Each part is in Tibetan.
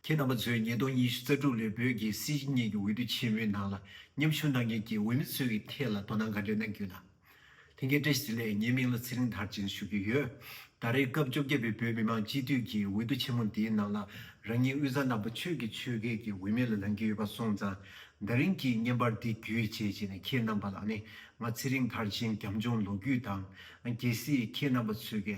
ཁྱེད་རྣམ་པ་ཚོས་ཉིས་སྟོང་ཉི་ཤུ་རྩ་དྲུག་ལོའི་བོད་ཀྱི་སྲིད་བྱུས་གཉིས་ཀྱི་འོས་བསྡུ་ཆེན་མོའི་ནང་ལ་མཉམ་ཞུགས་གནང་མཁན་གྱི་འོས་མི་ཚོའི་ཀྱི་ཐད་ལ་དོ་སྣང་ག་འདྲའི་གནང་རྒྱུ་དང། དེང་གི་བཀྲ་ཤིས་ལས་ངའི་མིང་ལ་ཚེ་རིང་དར་ཅན་ཞུ་རྒྱུ་ཡོད། ད་རེས་སྐབས་བཅོ་བརྒྱད་པའི་བོད་མི་མང་སྤྱི་འཐུས་ཀྱི་འོས་བསྡུ་ཆེན་མོ་འདིའི་ནང་ལ་རང་ཉིད་དབུས་གཙང་རྣམ་པ་ཆོས་ཀྱི་ཆོས་སྐལ་གྱི་འོས་མི་ལ་ལང་རྒྱུ་ཡོད་པ་སོང་ཙང་ད་རིང་གི་བརྙན་པར་འདི་བརྒྱུད་བྱས་རྗེས་ནས་ཁྱེད་རྣམ་པ་ལ་ནི་ང་ཚེ་རིང་དར་ཅན་རྒྱམ་ཆུང་ལོ་རྒྱུས་དང། གལ་སྲིད་ཁྱེད་རྣམ་པ་ཚོས་ཀྱི་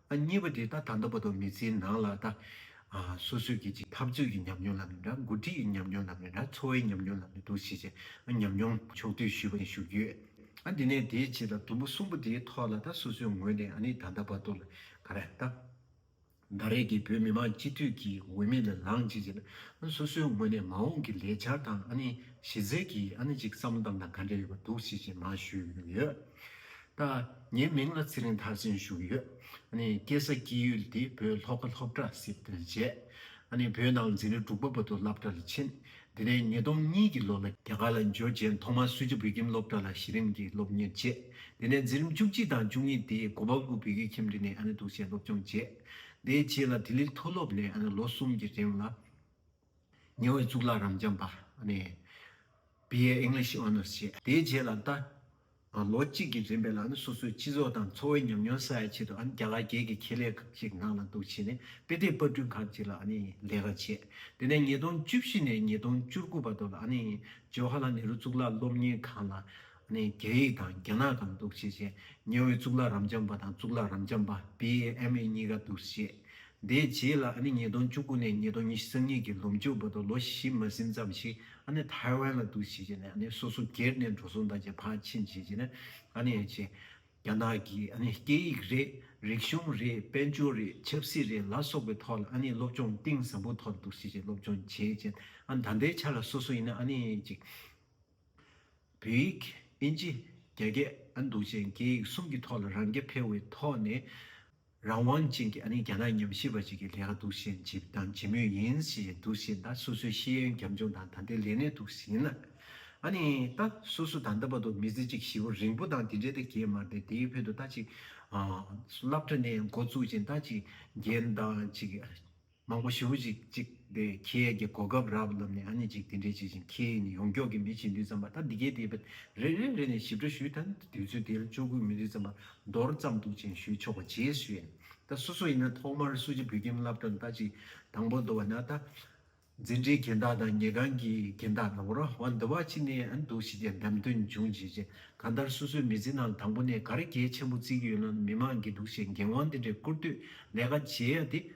ཨ་གཉིས་པ་དེ་ད་ད་ལྟ་བར་དུ་མི་ཚེའི་ནང་ལ་ད་སོ་སོས་ཀྱི་ཅིག་འཐབ་རྩོད་ཀྱི་ཉམས་མྱོང་ལ་མེད་འདྲ་འགོ་ཁྲིད་ཀྱི་ཉམས་མྱོང་ལ་མེད་འདྲ་འཚོ་བའི་ཉམས་མྱོང་ལ་མེད་འདུག་ཞེས་བྱས་ཨ་ཉམས་མྱོང་ཕྱོགས་བསྡུས་ཞུས་པ་ནས་ཞུ་རྒྱུ་ཡོད་ཨ་དེ་ནས་དེའི་རྗེས་ལ་དུམ་བུ་གསུམ་པོ་དེའི་ཐོག་ལ་ད་སོ་སོའི་ངོས་ནས་ཨ་ནི་ད་ལྟ་བར་དུ་ལ་ག་རེ་ད་ད་རེས་ཀྱི་བོད་མི་མང་སྤྱི་འཐུས་ཀྱི་འོས་མི་ལ་ལངས་ཅིག་ཅེས་ན་ཨ་སོ་སོའི་ངོས་ནས་མ་འོངས་ཀྱི་ལས་འཆར་དང་ཨ་ནི་གཞི་རྩའི་གྱི་ཨ་ནི་ཅིག་བསམ་བློ་དང་དང་ག་འདྲ་ཡོད་པ་འདུག་ཞེས་བྱས་ན་ཞུས་ཡོད། དང། ངའི་མིང་ལ་ཚེ་རིང་ཐར་ཟིན་ཞུ་གི་ཡོད། སྐྱེས་ས་སྐྱེས་ཡུལ་དེ་བོད་ལྷོ་ཁ་ལྷོ་བྲག་སྲིབ་དོན་བཅས། བོད་ནང་འཛིན་རིང་འབྲུག་པ་བོ་དོ་སླབ་གྲྭ་ལ་ཕྱིན། དེ་ནས་ཉིས་སྟོང་གཉིས་ཀྱི་ལོ་ལ་རྒྱ་གར་ལ་འབྱོར་རྗེས་ཐོག་མར་སུ་ཇཱ་བོད་ཁྱིམ་སློབ་གྲྭ་ལ་གཞི་རིམ་གྱི་སློབ་གཉེར་བྱས། དེ་ནས་འཛིན་རིམ་བཅུ་གཅིག་དང་བཅུ་གཉིས་དེ་སྒོ་བ་དགུ་བོད་ཁྱིམ་འབྲི་ནས་གདུགས་བྱས་སློབ་སྦྱོང་བྱས། དེའི་རྗེས་ལ་དིལླིལ་མཐོ་སློབ་ནས་ལོ་གསུམ་གྱི་རིང་ལ། ཉེ་བའི་གཙུག་ལག་རབ་འབྱམས་པ། BA English Honours བྱས། དེའི་རྗེས་ལ་ད། ལོ་གཅིག་གི་རིམ་པས་ལ་ནི་སོ་སོའི་སྤྱི་ཚོགས་དང་འཚོ་བའི་ཉམས་མྱོང་གསལ་བའི་ཆེད་དུ་ཨ་ནི་རྒྱ་གར་རྒྱལ་གྱི་ཁེ་ལས་ཁག་ཅིག་གི་ནང་ལ་འདུག་བྱས་ནས་དཔེ་སྟེགས་དཔར་སྐྲུན་ཁག་ཅིག་ལ་ཨ་ནི་ལས་ཀ་བྱས། དེ་ནས་ཉིས་སྟོང་བཅུ་བཞི་ནས་ཉིས་སྟོང་བཅུ་དགུ་བར་དུ་ལ་ཨ་ནི་ཇོ་ཧ་ལ་ནེ་རུ་གཙུག་ལག་སློབ་གཉེར་ཁང་ལ་ནས་རྒྱ་ཡིག་དང་རྒྱ་ནག་གམ་འདུག་བྱེད་ཅེས་ཉེ་བའི་གཙུག་ལག་རམ་འབྱམས་པ་དང་གཙུག་ལག་རམ་འབྱམས་པ BAME གཉིས་ཀ་འདུག་བྱེད། དེའི་རྗེས་ལ་ཨ་ནི་ཉིས་སྟོང་བཅུ་དགུ་ནས་ཉིས་སྟོང་ཉི་ཤུ་གཉིས་ཀྱི་ལོ་མཇུག་བར་དུ་ལོ་བཞི་མ་ཟིན་ཙམ་ཞིག་ཨ་ནི་ཐའེ་ཝན་ལ་འདུག་བྱེད་བྱས་ནས་ཨ་ནི་སོ་སོ་སྒེར་ནས་འགྲོ་སོང་དང་བཅས་ཕར་ཕྱིན་བྱས་རྗེས་ནས་ཨ་ནི་ཨེ་ཅེ། རྒྱ་ནག་གི་ཨ་ནི་སྐད་ཡིག་རེད། རིག་གཞུང་རེད་དཔལ་འབྱོར་རེད་ཆབ་སྲིད་རེད་ལ་སོགས་པའི་ཐོག་ལ་ཨ་ནི་སློབ་སྦྱོང་གཏིང་ཟབ་པོ་ཐོག་འདུག་བྱེད་ཅེས་སློབ་སྦྱོང་བྱས་རྗེས་ཨ་ནི་ད་ལྟའི་ཆ་ལ་སོ་སོ་ཡིན་ན་ཨ་ནི་ཨེ་ཅེ། བོད་ཡིག། དབྱིན་ཇི། རྒྱ་སྐད། ཨ་འདུག་ཅན་སྐད་ཡིག་གསུམ་གྱི་ཐོག་ལ་རང་སྐད་ཕལ་བའི་ཐོག་ནས་རང་དབང་ཅན་གྱི་ཨ་རིའི་རྒྱ་ནག་ཉམས་ཞིབ་པ་ཞིག་གིས་ལས་ཀ་སྡུག་ཤིང་ཇི་བྱེད་དང་ཇི་མོས་ཡིན་ཞེས་སྡུག་བཞིན་ད་སོ་སོའི་ཤེས་ཡོན་རྒྱབ་ལྗོངས་དང་ད་ལྟའི་ལས་གནས་སྡུག་བཞིན་ལ། ཨ་ནི་ད་སོ་སོ་ད་ལྟ་བར་དུ་མི་ཚེ་གཅིག་བཞི་བོ་རིང་པོ་དང་དེ་འདྲའི་ད་རྒྱས་མར་ཏེ་དེའི་བོད་དུ་ད་ཅིག་སླབ་གྲ་ནས་འགོ་བཙུགས་ཅིང་ད་ཅིག་རྒྱན་དང་ཅིག་མང་པོ་ཞུ་གཞིག་ཅིག་དེ་ཁྱེད་ཀྱི་གོ་སྐབས་རག་ལབ་ནས་ཨ་ནི་ཅིག་དེ་འདྲས་བྱེད་བཞིན་ཁྱེད་ནི་ཡོངས་རྒྱོགས་ཀྱི་མི་བྱེད་འདུས་ཙམ་པ་ད་འདི་གས་དེ་བས་རེ་རེ་རེ་ནས་ཞིབ་ཕྲ་ཞུས་ད་དུས་ཚོད་དེ་ལ་ཅོག་གུས་མི་འདུས་ཙམ་པ་མདོར་བརྩམས་འདུག་ཅན་ཞུས་ཆོག་པ་རྗེས་སུ་ཡིན་ད་སོ་སོ་ཡིན་ན་ཐོག་མར་སུ་ཅིག་བོད་ཁྱིམ་བསླབ་གྲྭ་ལ་ལྟ་ཅིག་དང་པོ་འདུ་བ་ན་ད་འཛིན་གྲྭའི་གྱེན་བདག་དང་ཉལ་ཁང་གི་གྱེན་བདག་དང་པོ་ར་བ་འདུ་བ་ཅི་ནས་ཨ་ནི་འདུག་བྱེད་ཅན་འདམ་སྟོན་འབྱུང་བྱེད་ཅན་གང་ལྟར་སོ་སོའི་མི་ཚེ་ནང་ལ་དང་པོ་ནས་གར་གྱེས་ཆེན་པོ་བརྩི་གི་ཡོད་ན་མི་མང་གིས་འདུག་བྱེད་འགན་དབང་དེ་འདྲས་བསྐུར་དུས་ལས་ཀ་བྱེད་ཡ་དེ་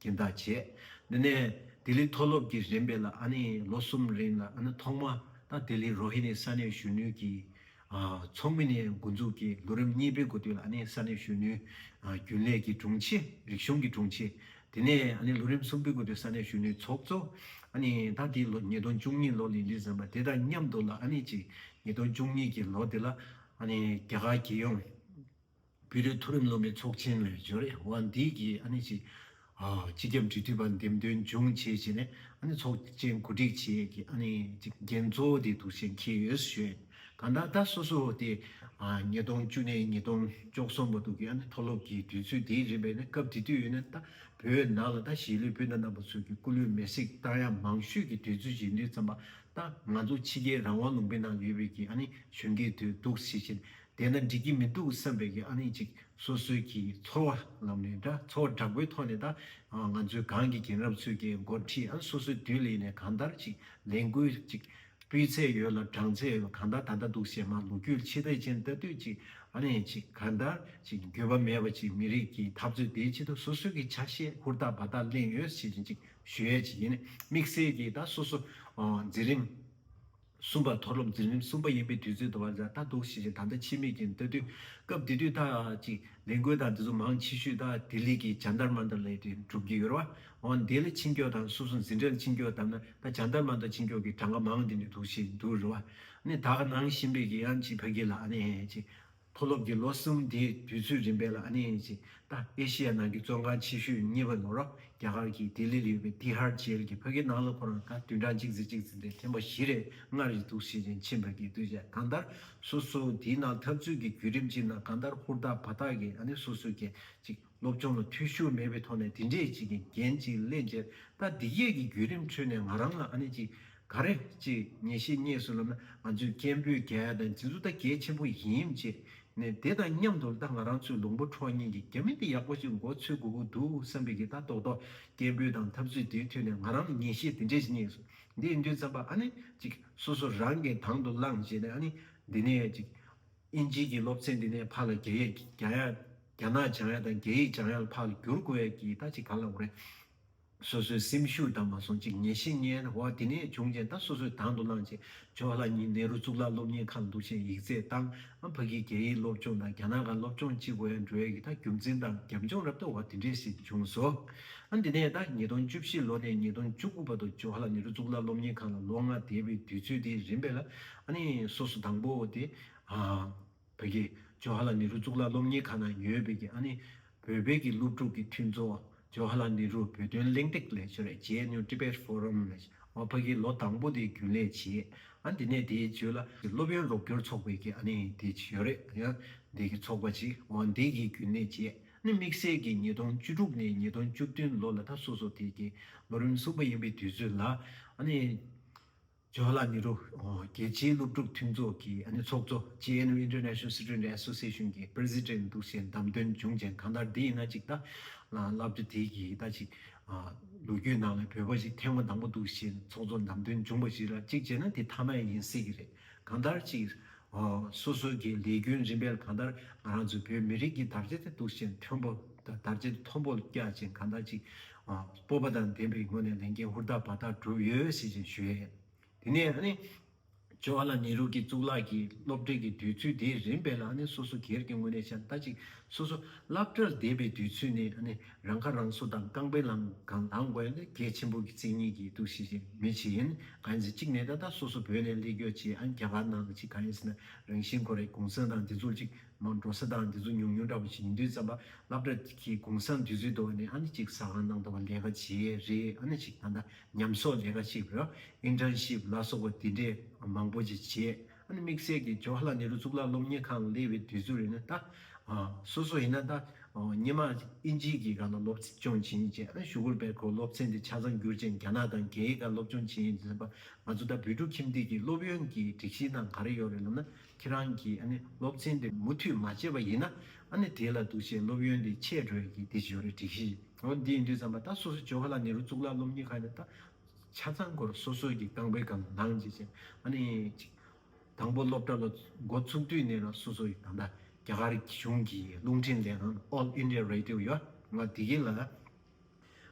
གྱིན་དག་བྱས། དེ་ནས་ལྡི་ལི་མཐོ་སློབ་ཀྱི་རིམ་པས་ལ་ཨ་ནི་ལོ་གསུམ་རིང་ལ་ཨ་ནི་ཐོག་མ་ད་ལྡི་ལི་རོ་ཧི་ནི་ས་གནས་གཞོན་ནུའི་གྱི་ཚོགས་མི་ནས་འགོ་འཛུགས་ཀྱིས་ལོ་རིམ་གཉིས་པའི་འགོ་སྟོད་ལ་ཨ་ནི་ས་གནས་གཞོན་ནུའི་རྒྱུན་ལས་ཀྱི་དྲུང་ཆེ་རིག་གཞུང་གི་དྲུང་ཆེ། དེ་ནས་ཨ་ནི་ལོ་རིམ་གསུམ་པའི་འགོ་སྟོད་ས་གནས་གཞོན་ནུའི་ཚོགས་གཙོ། ཨ་ནི་ད་ལྡི་ལོ་ཉིས་སྟོང་བཅུ་གཉིས་ལོ་ལི་ལི་ཟེར་བ་དེ་དང་མཉམ་དུ་ལ་ཨ་ནི་ཅིག་ཉིས་སྟོང་བཅུ་གཉིས་ཀྱི་ལོ་དེ་ལ་ཨ་ནི་རྒྱ་གར་རྒྱལ་ཡོངས་བོད་རིགས་མཐོ་རིམ་སློབ་མའི་ཚོགས་ཆེན་ལས་འབྱོར་ཨེ་ཝྃ་འདི་གའི་ཨ་ནི་ཅི། སྤྱི་ཁྱབ་འབྲེལ་མཐུད་པ་འདེམས་ཐོན་འབྱུང་བྱེད་བྱས་ནས་ཨ་ནི་ཚོགས་ཆེན་གོ་སྒྲིག་བྱེད་ཀྱི་ཨ་ནི་ཅི་འགན་གཙོ་བོ་དེ་དུ་བཞེས་མཁན་ཡོད་ས་ཞོད་གང་དག་ད་སོ་སོ་སྟེ། ཉིས་སྟོང་བཅུ་ནས་ཉིས་སྟོང་བཅོ་གསུམ་བར་དུ་གི་ཨ་ནི་མཐོ་སློབ་ཀྱི་དུས་ཚོད་དེ་རིམ་པས་ནི་སྐབས་དེ་དུས་ཡོད་ན་ད་བོད་ནང་ལ་ད་གཞིས་ལུས་བོད་ནང་རྣམ་པ་ཚོས་ཀྱི་སྐུ་ལུས་མེར་སྲེག་བཏང་ཡག་མང་ཤོས་ཀྱི་དུས་ཚོད་བཞེས་འདོད་ཙམ་པ་ད་ང་ཚོ་ཕྱི་རྒྱལ་རང་དབང་ལུང་པའི་ནང་ཡོད་བོད་ཀྱི་ཨ་ནི་གཞོན་སྐྱེས་དུས་འདུག་སེ་བཞིན་དེས་ན་འགྲིག་གི་མི་འདུག་བསམ་པའི་གི་ཨ་ནི་ཅིག་སོ་སོའི་གི་ཚོར་བ་ལམ་ནས་འདྲ་ཚོར་བ་དྲག་པོའི་ཐོག་ནས་ད་ང་ཚོའི་གང་གི་གིན་རབས་ཚོད་ཀྱི་འགོ་འཁྲིད་ཨ་ནི་སོ་སོའི་དུས་ལེགས་ནས་གང་ལྟར་ཅིག་ལས་འགུལ་ཅིག་སྤུས་ཚད་ཡོད་ལ་བགྲང་ཚད་ཡོད་པ་གང་ལྟར་ད་ལྟ་འདུག་ཞེས་མ་ལུག་ཁྱུ་ཕྱི་ཐེག་ཅན་ལྟ་དུས་ཅིག་ཨ་ནི་ཅིག་གང་ལྟར་ཅིག་འགྱོད་པ་མེད་པ་ཅིག་མི་རིགས་གི་འཐབ་རྩོད་དེའི་ཆེད་དུ་སོ་སོའི་གི་ཆ་ཤས་ཧུར་ཐག་བ་ཐག་གླེང་ཡོད་ཞེས་ཅིག་ཞུ་ཡས་ཅིག་ཡིན་དམིགས་བསལ་གི་ད་སོ་སོ་འཛིན་རིམ། གསུམ་པ། མཐོ་སློབ་འཛིན་རིམ་གསུམ་པ་ཡིན་པའི་དུས་ཚོད་དུ་བ་ཛྭ་ལྟ་རྟོག་བྱེད་བཞིན་ད་ལྟ་ཕྱི་མིག་གིས་ལྟ་དུས། སྐབས་དེ་དུས་ད་ཅིག་ལས་འགུལ་དང་འདི་ཚོ་མང་ཆེ་ཤོས་ད་ལྡི་ལི་གི་བྱང་དར་མ་མདོ་ལས་དེ་འགྲུབ་ཀྱི་ཡོད་ར་བ། འོ་འདི་ལ་ཕྱིན་སྐྱོད་དང་སོ་སོ་འཛིན་གྲྭ་ལ་ཕྱིན་སྐྱོད་བཏབ་ན་ད་བྱང་དར་མ་མདོ་ཕྱིན་སྐྱོད་ཀྱི་གྲངས་ཀ་མང་དེ་འདྲ་འདུག་ཤེས་འདུག་རེད་བ། ནི་ད་ག་ནང་བཞིན་པའི་གི་ཡང་ཅིག་བོད་སྐད་ལ་ཨ་ནི་ཅིག། མཐོ་སློབ་ཀྱི་ལོ་གསུམ་དེའི་དུས་ཚོད་རིམ་པས་ལ་ཨ་ནེ་ཡན་ཅི་ཏཱ་ཨེ་ཤེ་ཡ་ནང་གི་བཙོན་ཁང་ཆེ་ཤོས་གཉིས་པ་ནོར་རྒྱ་གར་གྱི་ལྡི་ལི་ལ་ཡོད་པའི་ཏི་ཧར་ཇེལ་གྱི་ཕ་གིའི་ནང་ལ་ཁོ་རང་ད་དུས་གྲངས་གཅིག་ཚེ་གཅིག་ཚེ་འདིར་ཐེངས་པ་བཞི་རེ་ལྔ་རེ་འདུག་ཞེས་ཡན་ཆིན་ཕ་གིའི་བསྟོད་དཔྱད་གང་ལྟར་སོ་སོ་དེའི་ནང་འཐབ་རྩོད་ཀྱི་བརྒྱུད་རིམ་ཅིག་ནང་གང་ལྟར་ཧུར་ཐག་བར་ཐག་གིས་ཨ་ནེ་སོ་སོ་གྱིས་ཅིག་སློབ་སྦྱོང་ལ་ཐུས་ཤོར་མེད་པའི་ཐོག་ནས་དེ་འདྲའི་ཅིག་གི་འགན་ཅིག་སླེབས་རྗེས་ད་འདི་སྐད་ཀྱི་བརྒྱུད་རིམ་ཁྲོད་ནས་ང་རང་ལ་ཨ་ནེ་ཅིག་ག་རེ་ཅིག་ངེས་ཤེས་རྙེད་སོང་ལབ་ན་ང་ཚོས་སྐད་འབོད་རྒྱ་ཡ་དང་འཛིན་བཟུང་ད་གལ་ཆེན་པོ་ཡིན་བྱས་ནས་དེ་དང་མཉམ་དུ་ད་ང་རང་ཚོའི་ལུང་པ་འཕྲོག་གཉེན་གྱི་རྒྱ་མི་འདི་ཡག་པོ་ཅིག་མགོ་འཚོས་དགོས་ཀྱི་འདུག་བསམ་པའི་གི་ད་རྡོག་རྡོག་སྐད་འབོད་དང་ཐབས་རྩོད་དེའི་ཐོད་ནས་ང་རང་ལ་ངེས་ཤེས་དེ་འདྲས་ཅིག་རྙེད་སོང་འདི་ཡིན་དུས་བརྩམས་པ་ཨ་ནེ་ཅིག་སོ་སོ་རང་གིས་དང་དུ་བླངས་བྱས་ནས་ཨ་ནེ་འདི་ནས་ཅིག་དབྱིན་ཇིའི་གྱི་སློབ་ཚན་འདི་ནས་ཕར་ལ་རྒྱ་ཡིག་རྒྱ་ཡག་རྒྱ་ནག་བྱང་ཡག་དང་རྒྱ་ཡིག་བྱང་ཡག་ལ་ཕར་ལ་འགྱུར་དགོས་ཡག་གྱི་ད་ཅིག་ཕར་ལ་འོང་རེད། སོ་སོའི་སེམས་ཤུགས་དང་མ་སོང་ཅིག་ངེས་ཤེས་ངན་ན་འོ་དེ་ནས་བྱུང་རྐྱེན་ད་སོ་སོས་དང་དུ་བླངས་ཆེ་ཇོ་ལྷ་གཉིས་ནེ་རུ་གཙུག་ལག་སློབ་གཉེར་ཁང་ལ་འདུག་ཆེན་ཡིག་རྩེད་བཏང་ཨ་ཕ་གིས་རྒྱ་ཡིག་སློབ་སྦྱོང་དང་རྒྱ་ནག་ག་སློབ་སྦྱོང་ཅིག་བས་འགྲོ་ཡག་གི་ད་རྒྱུ་མཚན་དང་རྒྱབ་ལྗོངས་རབ་ད་འོ་དེ་འདྲས་ཞིག་བྱུང་སོ། ཨ་འདི་ནས་ད་ཉིས་སྟོང་བཅུ་བཞི་ལོ་ནས་ཉིས་སྟོང་བཅུ་དགུ་བར་དུ་ཇོ་ལྷ་ནེ་རུ་གཙུག་ལག་སློབ་གཉེར་ཁང་ལ་ལོ་ལྔ་བསྡད་པའི་དུས་ཚོད་དེ་རིམ་པས་ལ་ཨ་ནི་སོ་སོ་དང་པོ་དེ། བོད་ཀྱི་ཇོ་ཧ་ལ་ནི་རུ་གཙུག་ལག་སློབ་གཉེར་ཁང་ནང་ཡོད་པའི་ཨ་ནི་བོད་པའི་གི་སློབ་ཕྲུག་གི་མཐུན་ཚོགས་ཇོ་ཧ་ལ་ནི་རུ་བོད་དོན་གླེང་སྟེགས་ལས་ཆོད་རེ་ཇེ་ནུ Tibet Forum ལས་བ་ཕ་གི་ལོ་དང་པོ་དེ་རྒྱུན་ལས་བྱས་ཨ་དེ་ནས་དེའི་ཇོ་ལ་གི་སློབ་ཡོན་རོགས་སྐྱོར་ཚོགས་པའི་གི་ཨ་ནི་དེ་ཆོད་རེ་ཡང་དེ་གི་ཚོགས་པ་ཆི་བ་དེ་གི་རྒྱུན་ལས་བྱས་ཨ་ནི་དམིགས་བསལ་གི་ཉིས་སྟོང་བཅུ་དྲུག་ནས་ཉིས་སྟོང་བཅུ་བདུན་ལོ་ལ་ད་སོ་སོ་དེ་གི་ལོ་རིམ་གསུམ་པ་ཡིན་པའི་དུས་ཚོད་ལ་ཨ་ནི། ཇོ་ལ་ནེ་རུ་རྒྱལ་སྤྱིའི་སློབ་ཕྲུག་མཐུན་ཚོགས་ཀྱི་ཚོགས་གཙོ JNU International Student Association གྱི President འདུག་ཅེས་གདམས་དོན་འབྱུང་ཅན་གང་ལྟར་འདི་ཡིན་ན་ཅིག་ལྟ། བསླབ་བྱ་དེ་གི་ལྟ་ཅིག། ལོ་རྒྱུས་ནང་ལ་བོད་པ་ཞིག་ཐེངས་མ་དང་པོ་འདུག་ཅེས་ཚོགས་གཙོ་གདམས་དོན་འབྱུང་པ་ཞིག་ལ་ཅིག་བྱས་ན་དེ་མཐའ་མ་ཡིན་སྲིད་ཀྱི་རེད། གང་ལྟར་ཅིག། སོ་སོ་གྱི་ལས་རྒྱུན་རིམ་པས་གང་ལྟར་ང་རང་ཚོའི་བོད་མི་རིགས་ཀྱི་དར་ཆ་དེ་འདུག་ཅེས་མཐོན་པོ་དར་ཆ་དེ་མཐོན་པོ་རྒྱག་ཅིང་གང་ལྟར་ཅིག། སྤོབས་པ་དང་ལྡན་པའི་སྒོ་ནས་ལས་འགན་ཧུར་ཐག་བར་ཐག་བསྒྲུབས་ཡོད་ཞེས་ཀྱང་ཞུས། དེ་ནས་ཇོ་བྷ་ལ་ནེ་རུ་ཀྱིས་གཙུག་ལག་གི་སློབ་གྲྭའི་གི་དུས་ཚོད་དེའི་རིམ་སྤེལ་ལ་སོ་སོ་སྒེར་གྱི་ངོས་ནས་ཤ་མཐའ་གཅིག་སོ་སོ་བསླབ་གྲྭར་བསྡད་པའི་དུས་ཚོད་ནི་རང་ཁ་རང་གསོ་དང་རྐང་པའི་ལམ་གང་ལངས་དགོས་ལས་གལ་ཆེན་པོ་གི་མཚན་ཉིད་ཀྱི་གཏུག་བཤེར་བྱེད་མི་བྱེད་ག་ཡིན་ཟེར་གཅིག་ནས་ད་ལྟ་སོ་སོ་བོད་ནས་ལས་རྒྱོ་བྱེད་ཨ་རྒྱ་གར་ནང་ལ་ཅིག་ག་ཡིན་ཟེར་ན་རང་བཞིན་ཁོ་རེ་གུང་སེང་དང་འདི་ཚོར་ཅིག་མང་འགྲོ་ས་དང་འདི་ཚོ་ཉུང་ཉུང་འདྲ་པོ་ཞིག་ཡིན་དུས་བརྩམས་པ་སླབ་གྲ་གི་གུང་སང་དུས་ཚོད་དུ་ཨ་ནི་ཨ་ནི་ཅིག་ཟ་ཁང་ནང་དུ་ལས་ཀ་བྱེད་ཡས་རེད་ཨ་ནི་ཅིག་ད་ལྟ་ཉམས་གསོག་ལས་ཀ་ཞིག་རེད Internship ལ་སོགས་པ་འདི་འདྲའི་མང་པོ་ཅིག་བྱེད་ཨ་ནི་དམིགས་བསལ་གྱི་ཇོ་ཧ་ལ་ནེ་རུ་གཙུག་ལག་སློབ་གཉེར་ཁང་ལ་སླེབས་པའི་དུས་ཚོད་རེད་ན་ད་སོ་སོ་ཡིན་ན་ད་སྙེ་མ་ཨིན་ཇིའི་གི་ག་ལ་སློབ་སྦྱོང་བྱེད་ཡིན་ཅེས་ཨ་ནི་ཞུ་གུར་བེར་ཁོ་སློབ་ཚན་དེ་ཆ་ཚང་བསྒྱུར་རྗེས་རྒྱ་ནག་དང་རྒྱའི་ག་སློབ་སྦྱོང་བྱེད་ཡིན་དུས་བརྩམས་པ་ང་ཚོ་ད་བོད་ཕྲུག་ཁྱིམ་སྡེ་གི་སློབ་ཡོན་གྱི་སྒྲིག་གཞི་དང་ག་རེ་ཡོད་རེད་ལབ་ན་ཁྱེད་རང་གིས་སློབ་ཚན་དེ་མུ་མཐུད་མ་བྱས་པ་ཡིན་ན་དེ་ལ་འདུ་བྱེད་སློབ་ཡོན་དེ་ཆད་འགྲོ་ཡི་གི་དེ་ཇོ་རི་སྒྲིག་གཞི་ཡིན་འདི་ཡིན་དུས་ཙམ་པ་ད་སོ་སོ་ཇོ་ག་ལ་ནེ་རུ་གཙུག་ལག་སློབ་གཉེར་ཁང་དེ་ད་ཆ་ཚང་སྐོར་སོ་སོ་གི་ཁང་པའི་སྒང་ལ་ལངས་བྱེད་ཅེས་དང་པོ་སློབ་གྲྭ་ལ་འགོ་ཚུགས་དུས་ནས་ལ་སོ་སོ་ཡི་ད་ད་རྒྱ་གར་གཞུང་གི་རླུང་འཕྲིན་ལས་ཁང All India Radio ཡོད་ང་དེ་གི་ལ།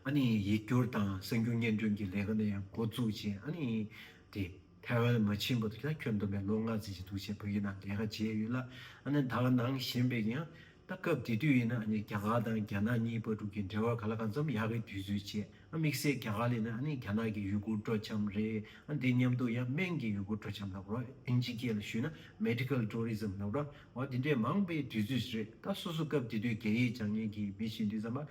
ཨ་ནི་ཡིག་སྒྱུར་དང་གསར་འགྱུར་སྙན་སྒྲོན་གྱི་ལས་ཀ་ནི་ཡང་མགོ་བཙུགས་རྗེས་ཨ་ནི་དེ་ཐའེ་ཝན་མ་ཕྱིན་པ་དུས་ད་ཁྱོད་འདོམས་པའི་ལོ་ལྔ་ཟིན་བཞིན་འདུག་ཅེས་བོད་ཡིག་ནང་ལས་ཀ་བྱས་ཡོད་ལ་ཨ་ནི་དྭགས་ནང་བཞིན་པའི་ཡང་ད་སྐབས་དེ་དུས་ཡིན་ན་ཨ་ནི་རྒྱ་གར་དང་རྒྱ་ནག་གཉིས་པར་དྲུག་གི་འབྲེལ་བར་ག་ལ་གང་འཚམ་ཡག་གི་དུས་ཚོད་བྱས་ཨ་དམིགས་བསལ་རྒྱ་གར་ལས་ན་ཨ་ནི་རྒྱ་ནག་གི་ཡུ་གུར་སྤྲོ་འཆམ་རེད་ཨ་དེ་མཉམ་དུ་ཡང་སྨན་གྱི་ཡུ་གུར་སྤྲོ་འཆམ་ལ་བར་ཨིན་ཇི་སྐད་ལ་ཞུས་ན Medical Tourism ལ་བར་བ་དེ་འདྲའི་མང་པའི་དུས་ཚོད་ཞིག་རེད་ད་སོ་སོ་སྐབས་དེ་དུས་རྒྱ་ཡིག་སྦྱང་མཁན་གྱི་མི་ཞིག་འདུག་ཙམ་པ་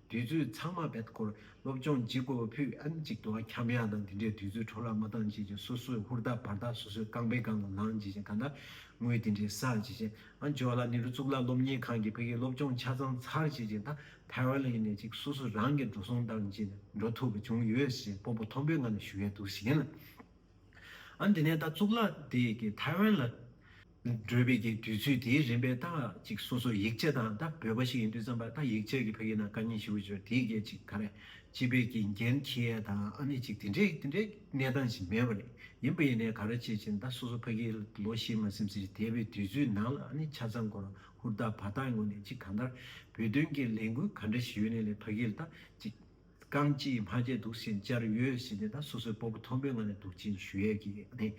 དུས་ཚོད་ཚང་མ་བེད་སྐོར་སློབ་སྦྱོང་བགྱིད་དགོས་པ་ཕུད་ཨེ་འཇིག་དུ་བ་ཁྱབ་ཡ་དང་དེ་འདྲའི་དུས་ཚོད་འཕྲོ་བརླག་མ་བཏང་བྱས་ཀྱི་སོ་སོའི་ཧུར་ཐག་བར་ཐག་སོ་སོའི་རྐང་པའི་སྒང་ལ་ལངས་བྱས་ཀྱི་ད་ལྟ་ངོས་དེ་འདྲའི་སར་བྱས་ཀྱི་ཨ་ཇོ་ལ་ནེ་རུ་གཙུག་ལག་སློབ་གཉེར་ཁང་གི་བོད་ཡིག་སློབ་སྦྱོང་ཆ་ཚང་ཚར་བྱས་ཀྱི་ད་ཐའེ་ཝན་ལ་ཡིན་ནས་ཅིག་སོ་སོ་རང་གིས་འགྲོ་སོང་བཏང་བྱས་ནས་འགྲོ་ཐུབ་པ་བྱུང་ཡོད་ཞེས་སྤོ་པོ་མཐོན་པོས་ང་ལ་ཞུ་ཡས་འདུག་བྱས་ཀྱི་ཨ་འདི་ནས་ད་གཙུག་ལག་དེ་གི་ཐའེ་ཝན་ལ། འགྲོས་དཔེ་ཀྱི་དུས་ཚོད་དེའི་རིམ་པའི་རྟགས་ཅིག་སོ་སོ་ཡིག་ཆ་དང་རྟ་བོད་པ་ཞིག་ཡིན་དུས་བརྩམས་པ་རྟ་ཡིག་ཆ་གི་ཕ་ཡིག་ན་ཀ་གཉིས་ཞེ་དགུ་བཅུ་དེའི་སྐད་ཅིག་ག་རེ་སྤྱི་དཔེ་ཀྱི་འགན་འཁྱེར་ཡས་དང་ཨ་མེས་ཅིག་དེ་འདྲའི་དེ་འདྲའི་གནས་སྟངས་ཅིག་མེད་པ་རེད་ཡིན་པ་ཡིན་ནའི་ག་རེ་བྱེད་ཅིང་རྟ་སོ་སོ་ཕ་གིའི་ལོ་ཤེས་མ་སེམས་ཚེ་འདས་པའི་དུས་ཚོད་ནང་ལ་ཨ་ནི་ཆ་ཚང་སྐོར་ཧུར་ཐག་བར་ཐག་ངོས་ནས་ཅིག་གང་ལྟར་བོད་དོན་གྱི་ལས་འགུལ་ག་འདྲ་ཞིག་ཡོད་ནས་ལས་ཕ་གིའི་རྟ་ཅིག། རྐང་གཅིག་གིས་མ་བརྗེད་འདུག་ཟིན་བཅར་ཡོད་ཟིན་ནས་ད་སོ་སོའི་སྤོ་བོ་མཐོན་པོའི་ངང་ནས་འདུག་ཅིང་ཞུ་ཡས་ཀྱིས་ནི་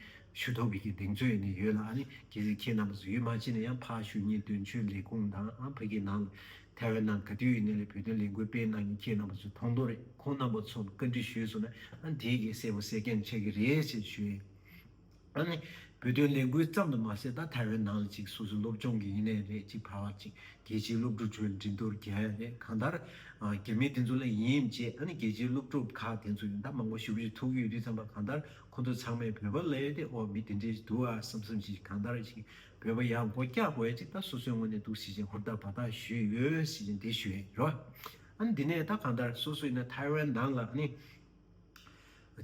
ཞུ་དོགས་ཀྱིས་ཀྱི་གདེང་ཚོད་ནི་ཡོད་ལ་ནི་གྱིས་ཟིན་ཁྱེད་རྣམ་པ་ཚོ་ཡུལ་མ་ཕྱིན་ན་ཡང་ཕ་ཞུ་གཉིས་དོན་གཅོད་ལས་ཁུངས་དང་ཨ་ཕ་གྱི་ནང་ལ་ཐའེ་ཝན་ནང་ག་དུས་ཡིན་ནས་ལས་བོད་དོན་ལས་འགུལ་སྤེལ་གནང་གིན་ཁྱེད་རྣམ་པ་ཚོས་མཐོང་དོགས་རེད་ཁོང་རྣམ་པ་ཚོ་ལ་བཀའ་འདྲི་ཞུས་སོང་ན་ཨ་འདིས་གྱིས་གསལ་བོ་གསལ་རྐྱང་འཆད་ཀྱི་རེད་ཅེས་ཞུ་ཡས་བོད་དོན་ལས་འགུལ་ཙམ་དུ་མ་ཟད་ད་ཐའེ་ཝན་ནང་ལ་ཅིག་སོ་སོའི་སློབ་སྦྱོང་གི་ཡིན་ནའི་རེད་ཅིག་ཕར་བ་ཅིག་རྒྱལ་སྤྱིའི་སློབ་ཕྲུག་ཁྲོད་འགྲིན་གཏོར་རྒྱལ་ཡ་རེད་གང་ལྟར། རྒྱ་མི་དེ་ཚོ་ལ་ཡིན་ཡིན་བྱས་ཨ་ནི་རྒྱལ་སྤྱིའི་སློབ་ཕྲུག་ཁག་དེ་ཚོ་ཡང་ད་མང་པོ་ཞུགས་རེ་ཐུག་ཡོད་དུས་ཙམ་པ་གང་ལྟར་ཁོ་ཚོ་ཚང་མས་བོད་པ་ལས་དེ་ཨོ་མི་དེ་འདྲའི་འདུག་ཨ་བསམ་བསམ་བྱས་ཤིག་གང་ལྟར་ཞིག་བོད་པ་ཡང་སྒོ་རྒྱག་དགོས་ཅིག་ད་སོ་སོའི་ངོས་ནས་འདུག་ཟེར་བཞིན་ཧུར་ཐག་བར་ཐག་ཞུས་ཡོད་ཟེར་བཞིན་དེ་ཞུས་ཨེ་རོ། ཨ་ནི་དེ་ནས་ད་གང་ལྟར་སོ་སོ་ཡིན་ན་ཐའེ་ཝན་ནང་ལ་ཨ་ནི།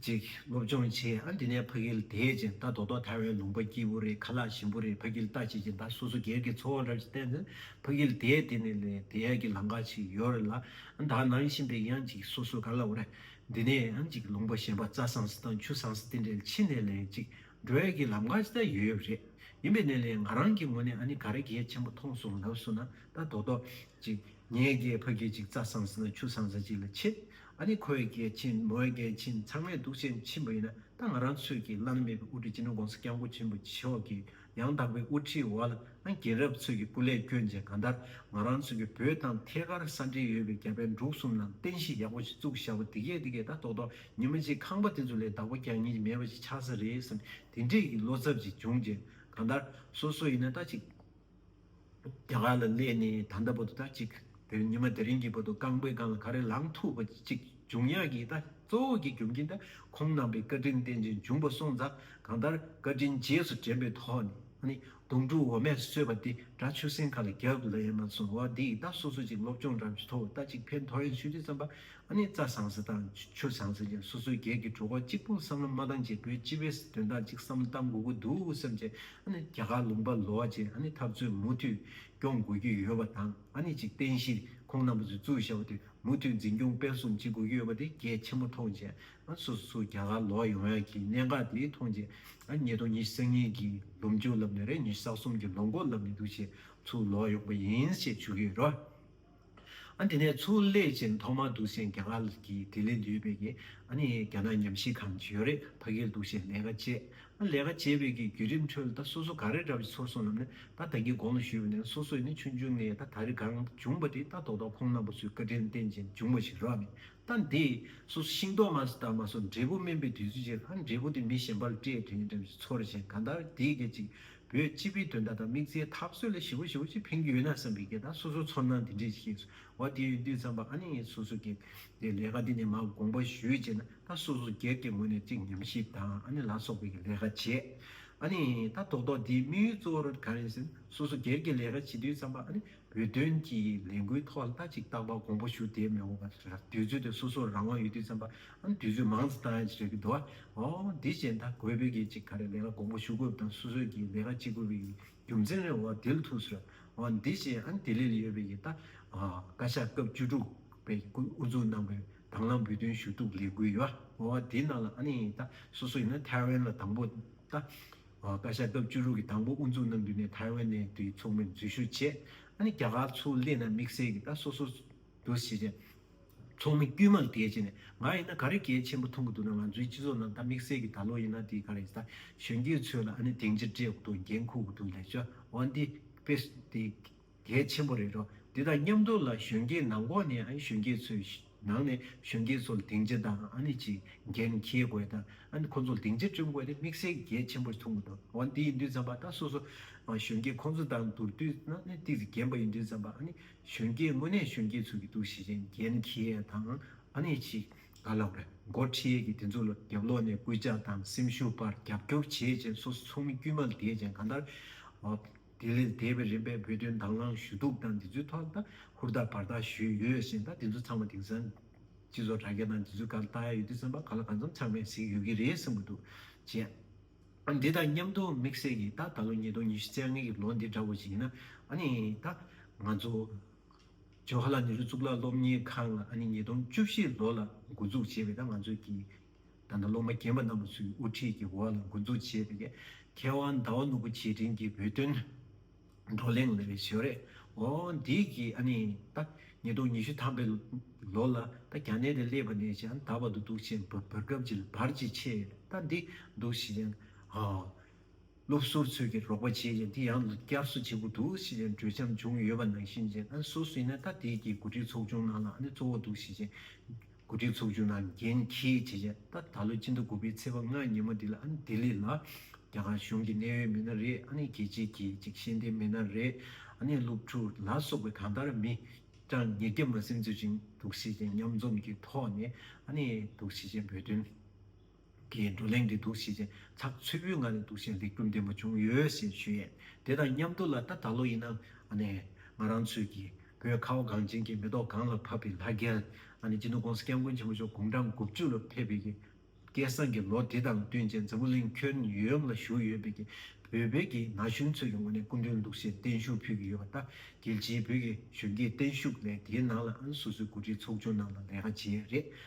ཅིག། སློབ་སྦྱོང་བྱས། ཨ་འདི་ནས་ཕ་གིལ་དེད་ཅིང་རྟ་རྡོག་རྡོག་དར་བའི་ལུང་པ་སྐྱིད་པོ་རེད་ཁ་ལག་ཞིམ་པོ་རེད་ཕ་གིལ་རྟ་བྱེད་ཅིང་ད་སོ་སོ་སྒེར་གྱི་འཚོ་བ་རབ་ཅིག་བསྟན་ཟིན་ཕ་གིལ་དེད་དེ་ནས་ལས་དེ་ཡས་ཀྱི་ལང་ཀ་ཞིག་ཡོད་རེད་ལ་ཨ་ད་ནང་བཞིན་པའི་ཡང་ཅིག་སོ་སོ་ག་ལ་བོ་རེད་འདི་ནས་ཨ་ཅིག་ལུང་པ་གཞན་པ་རྩྭ་ཟངས་སི་དང་ཆུ་ཟངས་སི་དེ་འདྲའི་ཕྱི་ནས་ལས་ཅིག་འགྲོ་ཡས་ཀྱི་ལམ་ཀ་ཅིག་ད་ཡོད་རེད་ཡིན་པའི་ནས་ལས་ང་རང་གི་ངོ་ནས་ཨ་ནི་ག་རེ་གལ་ཆེན་པོ་མཐོང་སོང་ལབ་སོ་ན་རྟ་རྡོག་རྡོག་ཅིག་ངས་ཀྱི་ཕ་གིལ་ཅིག་རྩྭ་ཟངས་སི་དང་ཆུ་ཟངས་སི་ཅིག་ལ་ཕྱེད་ད་ནི་ཁོའི་སྐད་ཆེན་མོའི་སྐད་ཆེན་ཚང་མས་དུག་ཆེན་ཆེན་པོ་ཡིན་ན་ད་ང་རང་ཚོས་ཀྱིས་བླ་ན་མེད་པའི་དབུ་ཁྲིད་སྤྱི་ནོར ྋགོང་ས ྋསྐྱབས་མགོན་ཆེན་པོ་མཆོག་གི་ཡང་དག་པའི་དབུ་ཁྲིད་འོག་ལ་ཨང་རྒྱན་རབས་ཚོད་ཀྱི་སྐུ་ལས་བསྐྱོན་རྗེས་གང་ལྟར་ང་རང་ཚོ་གི་བོད་དང་ཐད་ཀར་ས་འབྲེལ་ཡོད་པའི་རྒྱ་བལ་འབྲུག་གསུམ་ནང་རྟེན་གཞི་ཡག་པོ་ཞིག་བཙུགས་ཞབས་པ་འདི་གས་འདི་གས་ད་ཐོག་ཐོག་ཉིན་མ་གཅིག་ཁང་པ་དེ་ཚོ་ལས་བདག་པོ་རྒྱག་ཉེན་མེད་པ་ཞིག་ཆགས་ས་རེད་བསམ་དེ་འདྲས་ཀྱི་བློ་འཚབ་ཅིག་བྱུང་རྗེས་གང་ལྟར་སོ་སོ་ཡིན་ན་ད་ཅིག་རྒྱ་གར་ལ་སླེབས་ནས་ད་ལྟ་བར་དུ་ད་ཅིག་དེ་ཉི་མ་དེ་རིང་གི་བར་དུ་རྐང་པའི་སྒང་ལ་ག་རེ་ལངས་ཐུབ་པ་ཅིག་འབྱུང་ཡག་གི་ད་གཙོ་བོ་གི་རྒྱུ་མཁན་ད་ཁོང་རྣམ་པའི་བཀའ་དྲིན་རྟེན་ཅིང་འབྱུང་བ་སོང་ཙང་གང་ལྟར་བཀའ་དྲིན་རྗེས་སུ་དྲན་པའི་ཐོག་ནས་ཨ་ནི་དུང་སྤྲུག་འོ་མས་གསོས་པ་འདི་འདྲ་ཆུ་སྲིན་ཁ་ལ་རྒྱབ་ལ་ཡང་མ་སོང་བ་འདིས་ད་སོ་སོ་ཅིག་སློབ་སྦྱོང་རང་བྱེད་ཐོག་ད་ཅིག་ཕན་ཐོགས་ཡོང་ཤོས་ཅི་ཙམ་པ་ཨ་ནི་རྩྭ་བཟང་ཟེར་དང་ཆུ་བཟང་ཟེར་ཀྱང་སོ་སོའི་སྒེར་གྱི་གྲོགས་པོ་གཅིག་པོ་བསམ་བློ་མ་བཏང་རྗེས་བོད་སྤྱི་བའི་དོན་དག་ཅིག་བསམ་བློ་བཏང་དགོས་ཀྱི་འདུག་བསམ་རྗེས་ཨ་ནི་རྒྱ་གར་ལུང་པ་ལོག་རྗེས་ཨ་ནི་འཐབ་རྩོད་མུ་མཐུད་སྐྱོང་དགོས་ཀྱི་ཡོད་པ་དང་ཨ་ནི་ཅིག་བསྟན་གཞིས་ཁོང་རྣམ་པ་ཚོས་གཙོས་བྱ་བ་དེ་མུ་མཐུད་འཛིན་སྐྱོང་སྤེལ་གསུམ་བྱེད་དགོས་ཀྱི་ཡོད་པ་དེ་གལ་ཆེན་པོ་མཐོང་རྗེས་ཨ་ནི་སོ་སོ་སུ་རྒྱ་གར་ལོག་ཡོང་ཡག་གི་གནད་འགག་དེ་མཐོང་རྗེས་ཨ་ནི་ཉིས་སྟོང་ཉི་ཤུ་གཉིས་ཀྱི་ལོ་མཇུག་ལབ་ནས་རེ་ཉི་ཤུ་རྩ་གསུམ་གྱི་ལོ་མགོ་ལབ་ནས་འདུག་ཆེད་ཚུར་ལོག་ཡོང་པ་ཡིན་ཞེས་ཞུ་གི་ཡོད། ཨ་དེ་ནས་ཚུར་སླེབས་ཅིང་ཐོག་མར་འདུག་སའི་ག་ང་ལ་གི་དེ་ལས་འདུས་པའི་གི་ཨ་ནི་ག་ན་ཉམས་ཤིང་གང་བྱོས་རེ་ཕ་གིར་འདུག་སའི་ལས་ཀ་བྱས་ཨ་ལས་ཀ་བྱས་པའི་གི་རྒྱུད་རིམ་ཁྲོད་ལ་ད་སོ་སོ་ག་རེ་འདྲ་བ་ཞིག་ཚོར་སོང་ལབ་ནས་ད་ད་གི་དགོངས་ལ་ཞུས་པ་ནི་སོ་སོས་ནི་ཆུང་ཆུང་ངས་ད་ད་རེ་གང་བྱུང་བ་དེ་ད་ཐོག་ཐོག་ཁོང་རྣམ་པ་ཚོའི་བཀའ་དྲིན་རྟེན་ཅིང་བྱུང་བ་ཞིག་རག་ནས་ད་འདི་སོ་སོ་ཤིང་ཏོག་མ་ཟ་ད་མ་སོ་འབྲས་བུ་སྨིན་པའི་དུས་ཚོད་ཅིག་ཨ་འབྲས་བུ་དེ་མི་གཞན་པ་ལ་སྤྲད་དུས་ནི་འདྲ་བ་ཞིག་ཚོར་ཞིང་གང་ལྟར་དེ་སྐད་ཅིག་བོད་སྤྱི་པའི་དོན་དག་དང་དམིགས་བསལ་ཐབས་བཟོ་ལས་ཞི་བོ་ཞི་བོ་ཅིག་འཕེན་རྒྱུ་ཡོད་ན་བསམ་པའི་སྐད་དང་སོ་སོའི་ཚོར་སྣང་དེ་འདྲས་ཤིག་ཡིན། འོ་དེ་ཡོད་དུས་བརྩམས་པ་ཨ་ནེ་ངས་སོ་སོའི་སྐད། དེ་ལས་ཀ་འདི་ནས་མར་དགོངས་པ་ཞུས་བྱས་ན་ད་སོ་སོ་སྒེར་གྱི་ངོས་ནས་ཅིག་ཉམས་ཞིབ་དང་ཨ་ནེ་ལ་སོགས་པའི་གི་ལས་ཀ་བྱས། ཨ་ནེ། ད་ཐོག་ཐོག་འདིའི་དམིགས་ཡུལ་གཙོ་བོར་ག་རེ་ཟེར་ན་སོ་སོ་སྒེར་གྱི་ལས་ཀ་བྱེད་དུས་བརྩམས་པ་ཨ་ནེ་བོད་དོན་གྱི་ལས་འགུལ་ཐོག་ལ་ཅིག་བཏང་པ་གོང་བུ་ཞུ་དེ་མི་འོང་བ་རེད། དུས་ཚོད་དེ་སོ་སོར་རང་དབང་ཡོད་དུས་བརྩམས་པ། ཨང་དུས་ཚོད་མང་ཙམ་བཏང་ཡ་ཅིག་རེད་གི་འདུག་ཨ། ཨོ། དེ་བཞིན་ད་གོས་བོད་དགེ་ཅིག་ག་རེ་ལས་ཀ་གོང་བུ་ཞུ་དགོས་པ་དང་སོ་སོས་ཀྱི་ལས་ཀ་ཅི་དགོས་པའི་ཡི་རྒྱུ་མཚན་རེ་འོ་དེ་ལ་ཐུགས་གསོལ། ཨོ་དེ་བཞིན་ཨ་དེ་ལས་ལས་ཡོད་པའི་ཡི་ད། ཨོ། བཀའ་ཤག་སྐབས་བཅུ་དྲུག་པའི་སྐུ་དབུ་འཛུགས་གནང་པའི་དང་བླངས་བོད་དོན་ཞུ་གཏུག་ལས་འགུལ་ཡོ་ཨོ་དེའི་ནང་ལ་ཨ་ནི་ཡི་ད་སོ་སོ་ཡིན་ན་ཐའེ་ཝན་ལ་དང་པོ་ད། བཀའ་ཤག་སྐབས་བཅུ་དྲུག་གི་དང་པོ་དབུ་འཛུགས་གནང་དུས་ནས་ཐའེ་ཝན་ནས་དུས་མཚུངས་མེར་འཛུལ་ཞུ་བྱས། ཨ་ནི་རྒྱ་གར་ཚུར་སླེབས་ན་དམིགས་བསལ་གྱིས་ད་སོ་སོ་འདུ་ཤེས་ཅན། ཚོགས་མི་དཀྱུས་མ་ལ་གལ་ཆེ་ནས་ང་ཡིན་ན་ག་རེ་གལ་ཆེན་པོ་མཐོང་གི་འདུག་ན་ང་ཚོའི་སྤྱི་ཚོགས་ནང་ད་དམིགས་བསལ་གྱིས་ད་ལོ་ཡིན་ན་དེ་ག་རེ་ད་གཞོན་སྐྱེས་ཚོའི་ལ་ཨ་ནི་དེང་ཕྱིར་སྤྲད་དགོས་འདུག་འགན་འཁུར་དགོས་འདུག་ལས་བྱ་བ་འདི་དཔེ་དེ། གལ་ཆེན་པོ་རེད་དོ། འདི་དང་མཉམ་དུ་ལ་གཞོན་སྐྱེས་ནང་ཁོག་ནས་གཞོན་སྐྱེས་ཚོའི་ནང་ནས་གཞོན་སྐྱེས་ཚོ་ལ་སྡིངས་ཆ་དང་ཨ་ནི་ཅི་འགན་འཁྱེར་དགོས་དང་ཨ་ནི་ཁོང་ཚོ་ལ་སྡིངས་ཆ་སྐྲུན་དགོས་དེ་དམིགས་བསལ་གལ་ཆེན་པོར་མཐོང་གི་འདུག་འོན་དེ་ཡིན་དུས་ཙམ་པ་ད་སོ་སོ་གཞོན་སྐྱེས་ཁོང་ཚོ་དང་བསྡུར་དུས་ན་ནི་ཏིག་ཏིག་རྒན་པ་ཡིན་དུས་ཙམ་པ་ཨ་ནི་གཞོན་སྐྱེས་དངོས་གནས་གཞོན་སྐྱེས་ཚོ་གི་འདུག་ཤེས་བྱའི་འགན་འཁྱེར་དང་ཨ་ནི་ཅི་ག་ལ་འོས། མགོ་ཁྲིད་ཡས་ཀྱི་དེ་ཚོ་ལ་རྒྱབ་ལོག་ནས་སྐུལ་ལྕག་དང་སེམས་ཤུགས་པར་རྒྱབ་སྐྱོར་བྱེད་ཅེས་སོ་སོ་ཚོ་མི་དཀྱུས་མ་ལ་དེད་ཅིང་གང་ལྟར། དེ་ལས་འདས་པའི་རིམ་པས་བོད་དོན་དྭང་བླངས་ཞུ་གཏུག་དང་འདི་ཚོའི་ཐོག་ལ་ཧུར་ཐག་བར་ཐག་ཞུས་ཡོད་ཟེར་ན་དེ་ཚོ་ཚང་མ་དེང་སང་སྤྱི་ཚོགས་དྲ་རྒྱ་དང་འདི་ཚོའི་གར་བལྟ་ཡ་ཡོད་དུས་བསམ་པ་ག་ལ་གང་འཚམ་ཚང་མས་གཟིགས་ཡོད་ཀྱི་རེད་བསམ་གྱི་འདུག་བཅས། ཨ་འདི་དང་མཉམ་དུ་དམིགས་བསལ་གྱིས་ད་ད་ལོ་ཉིས་སྟོང་ཉི་ཤུ་ཚེས་ལྔ་གྱི་ལོ་འདི་འདྲ་བོ་ཞིག་ཡིན་ན་ཨ་ནི་ད་ང་ཚོ་ཇོ་ཧ་ལ་ནེ་རུ་གཙུག་ལག་སློབ་གཉེར་ཁང་ལ་ཨ་ནི་ཉིས་སྟོང་བཅུ་བཞི་ལོ་ལ་འགོ་འཛུགས་བྱས་པའི་ད་ང་ཚོ་གི་ད་ལྟ་སློབ་མ་རྒན་པ་རྣམས་པ་ཚོའི་དབུ་ཁྲིད་ཀྱི་འོག་ལ་འགོ་འཛུགས་བྱས་པའི་མཁས་དབང་ཟླ་བ་ནོར་བུ་རྗེས་དྲན་གྱི་བོད་དོན་བགྲོ་གླེང་ལས་བྱེད་རེད། འོ་འདི་གིས་ཨ་ནི་ད་ཉིས་སྟོང་ཉི་ཤུ་ཐམ་པའི་ལོ་ལ་ད་རྒྱ་ནད་དེ་སླེབས་པ་ནས་ཀྱང་ད་བར་དུ་དུག་ཆེན་འབར་སྐབས་ཀྱི་བར་གྱི་ཆེས་ད་འདི་འདུག་བྱས་ཨོ། སློབ་གསོར་ཚོད་ཀྱིས་རོགས་པ་བྱས་ཀྱང་དེ་ཡང་བསྐྱར་གསོ་བྱེད་དགོས་འདུག་ཞེས་ཀྱང་གྲོས་འཆམ་བྱུང་ཡོད་པ་ནང་བཞིན་ཅན་ཨ་སོ་སི་ནེ་ཐ་ཏེ་ཀྱི་འགོ་ཁྲིད་ཚོགས་ཆུང་ནང་ལ་ཨ་ནེ་གཙོ་བོ་འདུག་ཞེས་ཅན་འགོ་ཁྲིད་ཚོགས་ཆུང་ནང་འགན་འཁྱེར་བྱས་རྗེས་ད་ད་ལོའི་སྤྱི་ཟླ་དགུ་པའི་ཚེས་པ་ལྔ་ཉིན་མོ་འདི་ལ་ཨ་ནེ་ལྡི་ལི་ལ་རྒྱ་གར་གཞུང་གི་གནད་ཡོད་མི་སྣ་རེ་ཨ་ནེ་རྒྱལ་གཅེས་ཀྱི་ཅིག་ཤེས་ལྡན་མི་སྣ་རེ་ཨ་ནེ་སློབ་ཕྲུག་ལ་སོགས་པའི་གང་ལྟར་མི་གྲངས་ཉེར་བརྒྱ་མ་སེམས་ཚོད་ཅིག་འདུག་ཞེས་ཅན་མཉམ་འཛོམས་ཀྱི་ཐོག་ནས་ཨ་ནེ་འདུག་ཞེས་ཅན་བོད་དོན། གིས་བགྲོ་གླེང་གི་འདུ་ཤེས་ཅན་ཚགས་ཚུད་པོའི་ངང་ནས་འདུ་ཤེས་འཛིན་རྒྱུ་འདི་མ་བྱུང་ཡོད་ཞེས་ཞུས་ཡས་དེ་དང་མཉམ་དུ་ལ་ད་ད་ལོ་ཡིན་ན་ང་རང་ཚོས་ཀྱི་བོད་ཁ་བ་གངས་ཅན་གྱི་མེ་ཏོག་གངས་ལ་ཕབ་པའི་ལྷ་རྒན་ཅི་ནུ་ཀོང་ས་སྐྱབས་མགོན་ཆེན་པོ་མཆོག་དགུང་གྲངས་དགུ་བཅུ་ལ་ཕེབས་པའི་ཀྱི་སྐལ་བཟང་གི་ལོ་དེ་དང་བསྟུན་ཅན་འཛམ་བུ་གླིང་ཁྱོན་ཡོངས་ལ་བཞུགས་ཡོད་པའི་ཀྱི་བོད་པའི་ཀྱི་ན་གཞོན་ཚོའི་ཀྱི་ངོས་ནས་སྐུ་མདུན་འདུ་ཤེས་བརྟན་བཞུགས་ཕུལ་གྱི་ཡོད་པ་ད་གལ་ཆེའི་བོད་ཀྱི་གཞོན་སྐྱེས་བརྟན་བཞུགས་ལས་དེའི་ནང་ལ་ཨང་སོ་སོའི་འགོ་ཁྲིད་ཚོགས་ཆུང་རྣམས་ལ་ལས་ཀ་བྱེད་ཡས་རེད་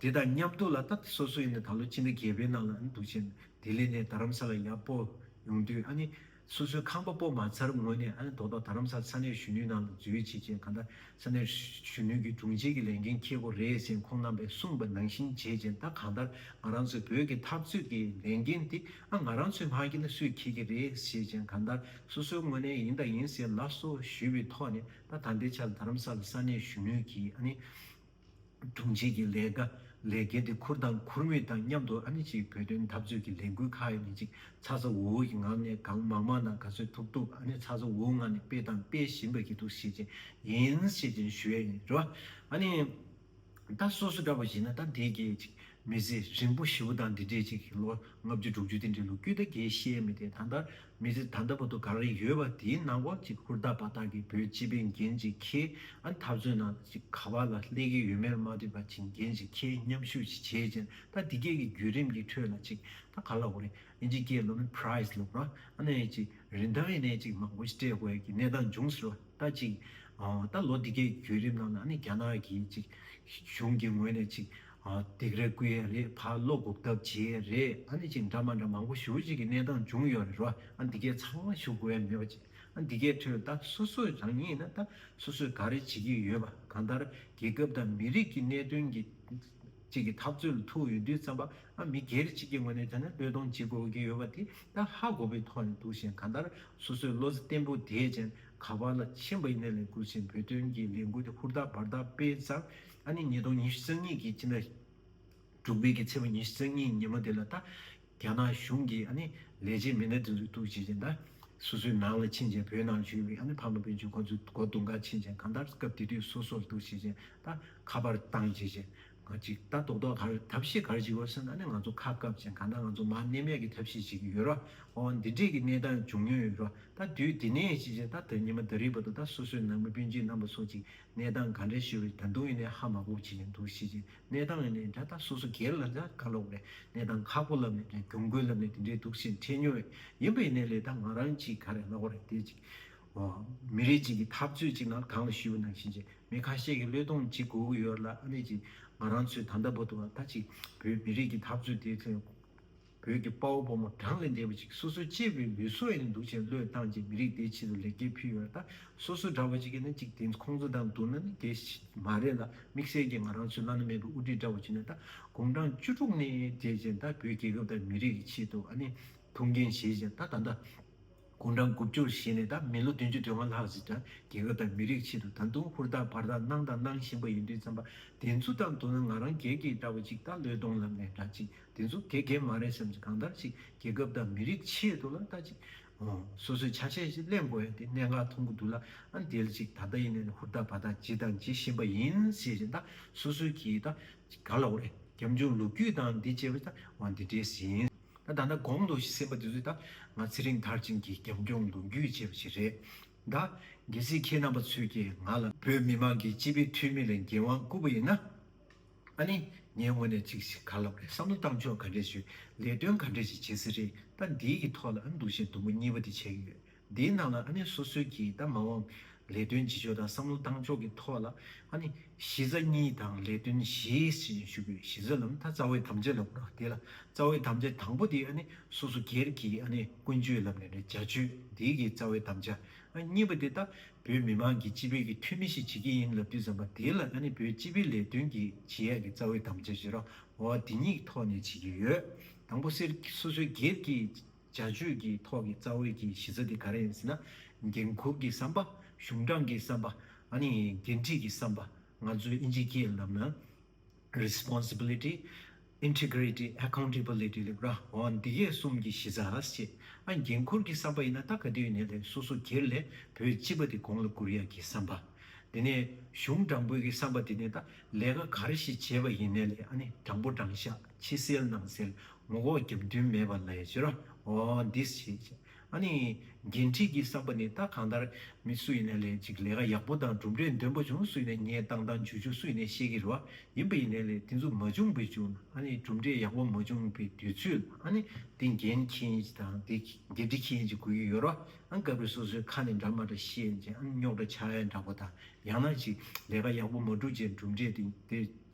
དེ་དང་མཉམ་འདུག་ལ་ད་ལྟ་སོ་སོ་ཡིན་ན་ད་ལོ་ཕྱི་ཟླ་བརྒྱད་པའི་ནང་ལ་ཨ་ནི་འདུག་བྱས་ནས་ལྡི་ལི་ནས་དྷ་རམ་ས་ལ་ཡར་སྤོར་ཡོང་དུས་ཨ་ནི་སོ་སོའི་ཁང་པ་སྤོ་མ་ཚར་སྔོན་ནས་ཨ་ནི་དོ་བདག་དྷ་རམ་ས་ལ་ས་གནས་གཞོན་ནུའི་ནང་ལ་འཛུལ་ཡོད་ཅེས་བྱས་ག་ད་ས་གནས་གཞོན་ནུའི་གི་དྲུང་ཆེ་གི་ལས་འགན་ཁེལ་གོ་རེད་ཅེས་ཁོང་རྣམ་པས་གསུངས་པ་ནང་བཞིན་བྱས་རྗེས་ད་གང་ལྟར་ང་རང་ཚོའི་བོད་ཀྱི་འཐབ་རྩོད་ཀྱི་ལས་འགན་དེ་ཨ་ང་རང་ཚོས་མ་ཁེལ་ན་སུས་ཁེལ་གི་རེད་ཞེས་བྱས་ག་ད་སོ་སོའི་ངོ་ནས་ཡིན་དང་ཡིན་ཟེར་ལགས་སོ་ཞུས་པའི་ཐོག་ནས་ད་ད་ལྟའི་ཆར་དྷ་རམ་ས་ལ་ས་གནས་གཞོན་ནུའི་གི་ཨ་ནི། དྲུང་ཆེ་གི་ལས་ཀ་ལས་འགལ་ཏེ་ཁུར་དང་ཁུར་མེད་དང་མཉམ་དུ་ཨ་ནི་ཅིའི་བོད་དོན་འཐབ་རྩོད་ཀྱི་ལས་འགུལ་ཁ་ཨེ་ནི་ཅིག་ཚ་ཚ་འུར་འུར་གྱི་ངང་ནས་གང་མང་མང་དང་ག་ཚོད་ཐུབ་ཐུབ་ཨ་ནི་ཚ་ཚ་འུར་འུར་ངང་ནས་སྤེལ་དང་སྤེལ་བཞིན་པ་གྱི་འདུག་ཞེས་ཅན་ཡིན་ཞེས་ཅན་ཞུ་ཡ་ཡིན་རེད་བ། ཨ་ནི། ད་སོ་སོ་འདྲ་བ་ཡིན་ན་ད་འདེད་གྱིས་ཅིག་མི་ཚེ་རིང་པོ་ཞེ་བོ་དང་འདི་འདྲའི་ཅིག་གིས་ལོ་ལྔ་བཅུ་དྲུག་ཅུ་དེ་འདྲའི་ལོ་རྒྱུས་ད་གེ་ཤེས་མི་དེ་ད་ལྟ་མི་ཚེ་ད་ལྟ་བར་དུ་ག་རེ་ཡོད་པ་དེའི་ནང་སྐོར་ཅིག་ཧུར་ཐག་པ་ཐག་གིས་བོད་སྤྱི་པའི་འགན་ཅིག་ཁྱེད་ཨ་འཐབ་རྩོད་ནང་ཅིག་ག་བ་ལ་སླེ་གི་ཡོད་མེར་མ་འདྲེས་པ་ཅིག་འགན་ཅིག་ཁྱེད་མཉམ་ཞུགས་ཅིག་བྱེད་ཅིང་ད་འདི་སྐད་གི་བརྒྱུད་རིམ་གི་ཁྲོད་ལ་ཅིག་ད་ག་ལ་འོ་རེ་ཨེ་ཅིག་སྐྱེས་ལོ་མི prize སློབ་ར་ཨ་ནས་ཅིག་རིན་ཐང་ཨེ་ནས་ཅིག་མང་པོ་ཅིག་སྤྲད་དགོས་ཀྱི་གནས་སྟངས་འབྱུང་སྲིད་ལ་ད་ཅིག་ད་ལོ་འདི་སྐད་གི་བརྒྱུད་རིམ་ནང་ལ་ཨ་ནས་རྒྱ་ནག་གིས་ཅིག་གཞུང་གི་ངོས་ནས་ཅིག་སྡིགས་ར་ཀུ་ཡེ་རེད་ཕར་བློ་འགུག་ཐབས་བྱེད་རེད་ཨ་ནི་ཅིག་འདྲ་མ་འདྲ་མང་པོ་ཞུ་ཅིག་གི་གནས་སྟངས་འབྱུང་ཡོད་རེད་རོ་ཨ་འདི་གས་ཚང་མ་ཞུ་དགོས་ཡ་མེད་པ་ཅིག་ཨ་འདི་གས་ཁྲོད་ད་སོ་སོས་རང་ཉིད་ན་ད་སོ་སོས་ག་རེ་བྱེད་ཀྱི་ཡོད་པ་གང་ལྟར་རྒྱལ་ཁབ་དང་མི་རིགས་ཀྱི་གནད་དོན་གྱི་ཅིག་གི་ཐབས་རྩོད་ལ་ཐུག་ཡོད་དུས་ཙམ་པ་ཨ་མི་སྒེར་གཅིག་གི་ངོས་ནས་བྱས་ན་བློས་གཏོང་བྱེད་དགོས་ཀྱི་ཡོད་པ་དེ་ད་ཧ་གོ་བའི་ཐོག་ནས་འདུག་བཞིན་གང་ལྟར་སོ་སོས་བློ་བརྟན་པོ་བསྡད་ཅིང་ག་པར་ལ་ཕྱིན་པ་ཡིན་ན་ལས་འགུལ་ཆེན་པོའི་དོན་གྱི་ལས་འགུལ་དེ་ཧུར་ཐག་འབར་ཐག་སྤེལ་ཙང་ད་ནི་ཉིས་སྟོང་ཉི་ཤུ་རྩ་གཉིས་ཀྱི་སྤྱི་ཟླ་དྲུག་པའི་གི་ཚེས་པ་ཉི་ཤུ་རྩ་གཉིས་ཉིན་མོ་དེ་ལ་ད་རྒྱ་ནག་གཞུང་གི་ཨ་ནི་ལས་བྱེད་མི་སྣ་དེ་ཚོས་གཏུགས་བྱེད་ཅིང་ད་སོ་སོའི་ནང་ལ་ཕྱིན་ཅིང་བོད་ནང་བཞུགས་པའི་ཨ་ནི་ཕ་མ་སྤུན་མཆེད་ཁོ་ཚོའི་སྒོ་དུང་ཁར་ཕྱིན་ཅིང་གང་ལྟར་སྐབས་དེ་དུས་སོ་སོར་གཏུགས་བྱེད་ཅིང་ད་ཁ་པར་བཏང་བྱེད་ཅིང་ང་ཅིག་ད་རྡོག་རྡོག་གར་ཐབས་ཤེས་གར་བྱེད་དགོས་ཟེར་ན་ཨ་ནི་ང་ཚོ་ཁ་བཀབ་ཅིང་གང་ལྟར་ང་ཚོ་མ་གནས་མལ་གྱི་ཐབས་ཤེས་བྱེད་ཀྱི་ཡོད་རོགས་ཨོ་འདི་འདྲིས་ཀྱི་གནས་སྟངས་འབྱུང་མྱོང་ཡོད་རོགས་ད་དུས་དེ་ནས་བྱེད་ཅིང་ད་ད་ཉི་མ་ད་རིས་པ་དུ་ད་སོ་སོའི་ནང་མི་སྤུན་མཆེད་རྣམ་པ་སོགས་ཅིག་གནས་སྟངས་ག་འདྲའི་ཞིག་རེད་ད་དུང་ཡིན་ནའི་ཧ་མ་གོ་བྱེད་ཀྱི་འདུག་ཤེས་ཀྱི་གནས་སྟངས་ཡིན་ནའི་ད་ལྟ་སོ་སོ་སྒེར་ལ་འདྲ་དཀའ་ལོག་རེད་གནས་སྟངས་ཁག་པོ་ལབ་ནས་རེད་གྱོང་གུད་ལབ་ནས་དེ་འདྲའི་འདུག་ཤེས་འཕྲད་མྱོང་བས་ཡིན་པ་ཡིན་ནའི་ལས་ད་ང་རང་གཅིག་ག་རེ་ལ་གོ་རེད་དེ་ཅིག་ཨོ། མི་རིགས་གཅིག་གི་འཐབ་རྩོད་ཅིག་ནང་གང་ལ་ཞུ་བ་ནང་བཞིན་བྱས་མི་ཁ་ཤས་ཀྱི་བློས་གཏོང་གཅིག་གོ་གི་ཡོད་རེད་ལ་ཨ་ནི་ཅིག་ང་རང་ཚོའི་ད་ལྟ་བོ་དུ་བ་ད་ཅིག་བོད་མི་རིགས་ཀྱི་འཐབ་རྩོད་དེ་ཚོའི། བོད་ཀྱི་དཔའ་བོ་ཕོ་མོ་གྲངས་ལས་འདས་པ་ཅིག་སོ་སོའི་གཅེས་པའི་ལུས་སྲོག་ཡིན་ནི་འདུག་ཅེས་བློས་བཏང་ཅིང་མི་རིགས་འདིའི་ཆེད་དུ་ལེགས་སྐྱེས་ཕུལ་ཡོད་ད་སོ་སོའི་འདྲ་བ་ཅིག་གིས་ནི་ཅིག་དེ་ཁོང་ཚོ་དང་བསྡུར་ན་ནི་དེ་མ་རེད་ལ་དམིགས་བསལ་གྱིས་ང་རང་ཚོའི་བླ་ན་མེད་པའི་དབུ་ཁྲིད་འདྲ་བ་ཅིག་ནི་ད་དགུང་གྲངས་བཅུ་དྲུག་ནས་དེ་བཞིན་ད་བོད་རྒྱལ་ཁབ་དང་མི་རིགས་ཀྱི་ཆེད་དུ་ཨ་ནི་ཐུགས་འགན་བཞེས་ཅིང་ད་ད་ལྟ་དགུང་གྲངས་དགུ་བཅུར་བཞེས་ནས་ད་མི་ལོ་བདུན་ཅུ་དོན་ལྔ་ལྷག་ཟིན་ཀྱང་རྒྱལ་ཁབ་དང་མི་རིགས་ཆེད་དུ་ད་དུང་ཧུར་ཐག་བར་ཐག་གནང་དང་གནང་བཞིན་པ་ཡིན་དུས་བརྩམས་པ་འདི་ཚོ་དང་བསྡུར་ན་ང་རང་དགེ་རྒན་འདྲ་བོ་ཅིག་ད་ལོའི་གདོང་ལམ་ནས་འདྲ་ཅིག་འདི་ཚོ་དགེ་རྒན་མ་རེད་བསམ་ཅིག་གང་ལྟར་ཅིག་རྒྱལ་ཁབ་དང་མི་རིགས་ཆེད་དུ་ལ་ལྟ་ཅིག་སོ་སོས་ཆ་ཤས་ཤིག་གླེང་དགོས་ཡ་དེ་གནད་འགག་མཐོང་གི་འདུག་ལ་ཨ་འདིར་ཅིག་ད་ལྟ་ཡིན་ནའི་ཧུར་ཐག་བར་ཐག་བགྱིས་དང་བགྱིད་བཞིན་པ་ཡིན་ཟེར་བཞིན་ད་སོ་སོའི་གིས་ད་ག་ལ་འོ་རེད་རྒྱབ་ལྗོངས་ལོ་རྒྱུས་དང་འདི་བྱས་པ་ད་འོ་འདི་འདྲས་ཟིན། ད་ལྟ་གོང་དུ་ཞེས་པ་དེ་ཚོ་ད་ང་ཚེ་རིང་ཐར་ཅན་གྱིས་རྒྱབ་ལྗོངས་འདོན་རྒྱུ་བྱས་པ་ཞིག་རེད་གདའ། གལ་སྲིད་ཁྱེད་རྣམ་པ་ཚོས་ཀྱིས་ང་ལ། བོད་མི་མང་གི་སྤྱི་པའི་འཐུས་མི་ལ་འགན་དབང་བསྐུར་པ་ཡིན་ན། ཨ་ནི་ངའི་ངོས་ནས་ཅིག་ཞིག་ག་ལ་དགོས་བསམ་བློ་བཏང་ཆོག་ག་འདྲས་བྱོས་ལས་དོན་ག་འདྲས་ཤིག་བྱེད་སའི་རིགས་ད་འདིའི་གི་ཐོག་ལ་འདུག་བཞིན་དུམ་བུ་གཉིས་པ་དེ་བྱས་ཡོད། དེའི་ནང་ལ་ཨ་ནི་སོ་སོའི་གྱི་ད་མ་འོངས་ལས་དོན་བྱེད་ཕྱོགས་དང་བསམ་བློ་བཏང་ཕྱོགས་ཀྱི་ཐོག་ལ་ཨ་ནི་གཞི་རྩ་གཉིས་དང་ལས་དོན་བཞིའི་ཞེས་ཞུ་བའི་གཞི་རྩ་ལམ་ཐ་རྩ་བའི་དམ་བཅའ་ལ་གོ་རོ་དེ་ལ་རྩ་བའི་དམ་བཅའ་དང་པོ་དེ་ཨ་ནི་སོ་སོ་སྒེར་གྱི་ཨ་ནི་ཀུན་སྤྱོད་ལམ་ནས་ནི་བྱ་སྤྱོད་དེའི་གི་རྩ་བའི་དམ་བཅའ་གཉིས་པ་དེ་ད་བོད་མི་མང་གི་སྤྱི་ཕན་གྱི་འཐུས་མི་ཞིག་བྱེད་ཀྱི་ཡིན་ལབ་དུས་ཙམ་པ་དེ་ལ་ཨ་ནི་བོད་སྤྱི་པའི་ལས་དོན་གྱི་བྱེད་ཡག་གི་རྩ་བའི་དམ་བཅའ་ཞེས་རོ་འོ་དེ་གཉིས་ཐོག་ནས་བྱེད་ཀྱི་ཡོད་དང་པོ་སེར་སོ་སོའི་སྒེར་གྱི། བྱ་སྤྱོད་ཀྱི་ཐོག་གི་རྩ་བའི་གྱི་གཞི་རྩ་དེ་ག་རེ་ཡིན་ཟེར་ན། འགན་ཁུར་གྱི་བསམ་པ། གཞུང་དྲང་གི་བསམ་པ། འགན་འཁྲི་གྱི་བསམ་པ། ང་ཚོས་ཨིན་ཇི་སྐད་ལབ་ན། Responsibility། Integrity། Accountability། ལེགས་པར་འོ་འདི་གས་གསུམ་གྱི་གཞི་རྩ་ཞེས། འགན་ཁུར་གྱི་བསམ་པ་ཡིན་ན་ལྟ་ག་དུས་ནས་ལས་སོ་སོ་གྱེར་ལས་བུ་གཅིག་པ་དེ་དགོངས་ལ་བསྐུར་ཡ་གྱི་བསམ་པ། དེ་ནས་གཞུང་དྲང་པོའི་གྱི་བསམ་པ་དེ་ནས་ལྟ་ལས་ཀ་ག་རེ་ཞིག་བྱེད་པ་ཡིན་ནས་ལས་དྲང་པོ་དྲང་བཞག་ཕྱི་སེལ་ནང་སེལ་ངོ་ལྐོག་རྒྱབ་མདུན་མེད་པ་ལས་བྱེད་རོ། འོ་འདིས་བྱེད་ཅེས། ཨ་ནི། འགན་འཁྲི་གྱིས་བསགས་པ་ནི་ད་གང་ལྟར། མི་སུ་ཡིན་ནས་ལས་ཅིག་ལས་ཀ་ཡག་པོ་དང་གྲུབ་འབྲས་འདོན་པོ་བྱུང་སུ་ཡིན་ནས་ངས་བཏང་དང་འཇུ་ཆུ་སུ་ཡིན་ནས་ཤེས་ཀྱི་རོ། ཡིན་པ་ཡིན་ནས་ལས་དེ་ཚུ་མ་བྱུང་བས་བྱུང་ན་ཨ་ནི་གྲུབ་འབྲས་ཡག་པོ་མ་བྱུང་བའི་དུས་ཚོད་ལ་ཨ་ནི། འདི་འགན་ཁྱེད་ཀྱི་དང་འདི་འགན་འཁྲི་ཁྱེད་ཀྱི་དགོས་ཀྱི་ཡོད་རོ། ཨ་ནི་སྐབས་རེ་སོ་སོའི་ཁ་ནས་འདྲ་མ་འདྲ་བཤད་རྗེས་ཨ་ནི་རྙོག་དྲ་ཆགས་ཡ་འདྲ་པོ་དང་ཡང་ན་ཅིག་ལས་ཀ་ཡག་པོ་མ་བསྒྲུབས་རྗེས་གྲུབ་འབྲས་དེ་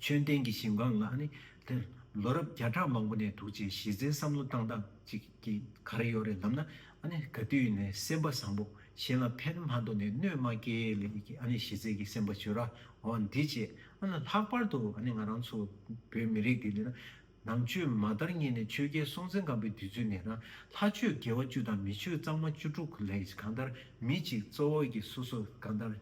ཆོས་ལྡན་གྱི་ཞིང་བ་ང་ནི་དེར་ལོ་རབས་བརྒྱ་ཕྲག་མང་པོ་ནས་འདུག་ཅེས་གཞི་རྩའི་བསམ་བློ་བཏང་སྟངས་ཅིག་གིས་གར་ཡོད་རེད་ལབ་ན་ཨ་ནི་ག་དུས་ནས་སེམས་པ་བཟང་པོ་གཞན་ལ་ཕན་མ་འདོགས་ནས་གནོད་མ་སྐྱེལ་ལེ་ཀྱི་ཨ་ནི་གཞི་རྩའི་གི་སེམས་པ་བྱོས་ར་འོ་འདི་བྱས་ཨ་ན་ལྷག་པར་དུ་ཨ་ནི་ང་རང་ཚོ་བོད་མི་རིགས་འདི་ལེ་ན་ནང་ཆོས་མ་དར་ཉིན་ནས་ཆོས་རྒྱལ་སྲོང་བཙན་སྒམ་པོའི་དུས་ཚོད་ནས་རང་ལྷ་ཆོས་དགེ་བ་བཅུ་དང་མི་ཆོས་གཙང་མ་བཅུ་དྲུག་ལས་གང་ལྟར་མི་གཅིག་གཙོ་བོ་གིས་སོ་སོ་གང་ལྟར་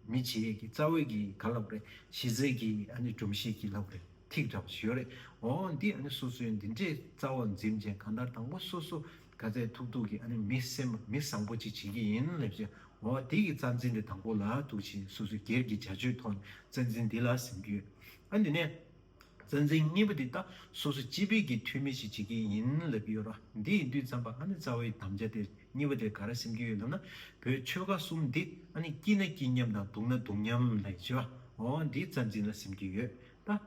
མི་བྱེད་ཡས་ཀྱི་རྩ་བའི་གི་ག་ལ་བ་རེད་བྱེད་རྩའི་གི་ཨ་ནི་སྒྲོམ་གཞིའི་གི་ལ་བ་རེད་ཐིག་འདྲ་བ་ཞིག་ཡོད་རེད་འོ་འདི་ཨ་ནི་སོ་སོའི་འདི་འདྲའི་རྩ་བ་འཛིན་མཁན་གང་ལྟར་དང་པོ་སོ་སོ་ག་ཚད་ཐུག་ཐུག་གི་ཨ་ནི་མི་སེམས་པ་མི་བཟང་པོ་ཅིག་བྱེད་ཀྱི་ཡིན་ལབ་ཅེ་འོ་འདི་གི་རྩ་འཛིན་འདི་དང་པོ་ལ་ཐུག་ཆེད་སོ་སོའི་སྒེར་གྱི་བྱ་སྤྱོད་ཐོག་ནས་རྩ་འཛིན་འདི་ལ་ཟེར་གྱི་ཡོད་ཨ་འདི་ནས། རྩ་འཛིན་གཉིས་པོ་འདི་དག་སོ་སོ་སྤྱི་ཕན་གྱི་འཐུས་མི་ཞིག་བྱེད་ཀྱི་ཡིན་ལབ་ཀྱི་ཡོད་ར་འདི་ཡིན་དུས་འཇམ་པ་ཨ་ནེ་རྩ་བའི་དམ་བཅའ་དེ་གཉིས་པོ་དེ་ག་རེ་སེམས་ཀྱི་ཡོད་ལབ་ན་བོད་ཆོལ་ཁ་གསུམ་འདི་ཨ་ནེ་སྐྱིད་ན་སྐྱིད་མཉམ་དང་སྡུག་ན་སྡུག་མཉམ་ལ་ཡི་བྱེད་པ་འོ་འདི་རྩ་འཛིན་ལ་སེམས་ཀྱི་ཡོད་ད།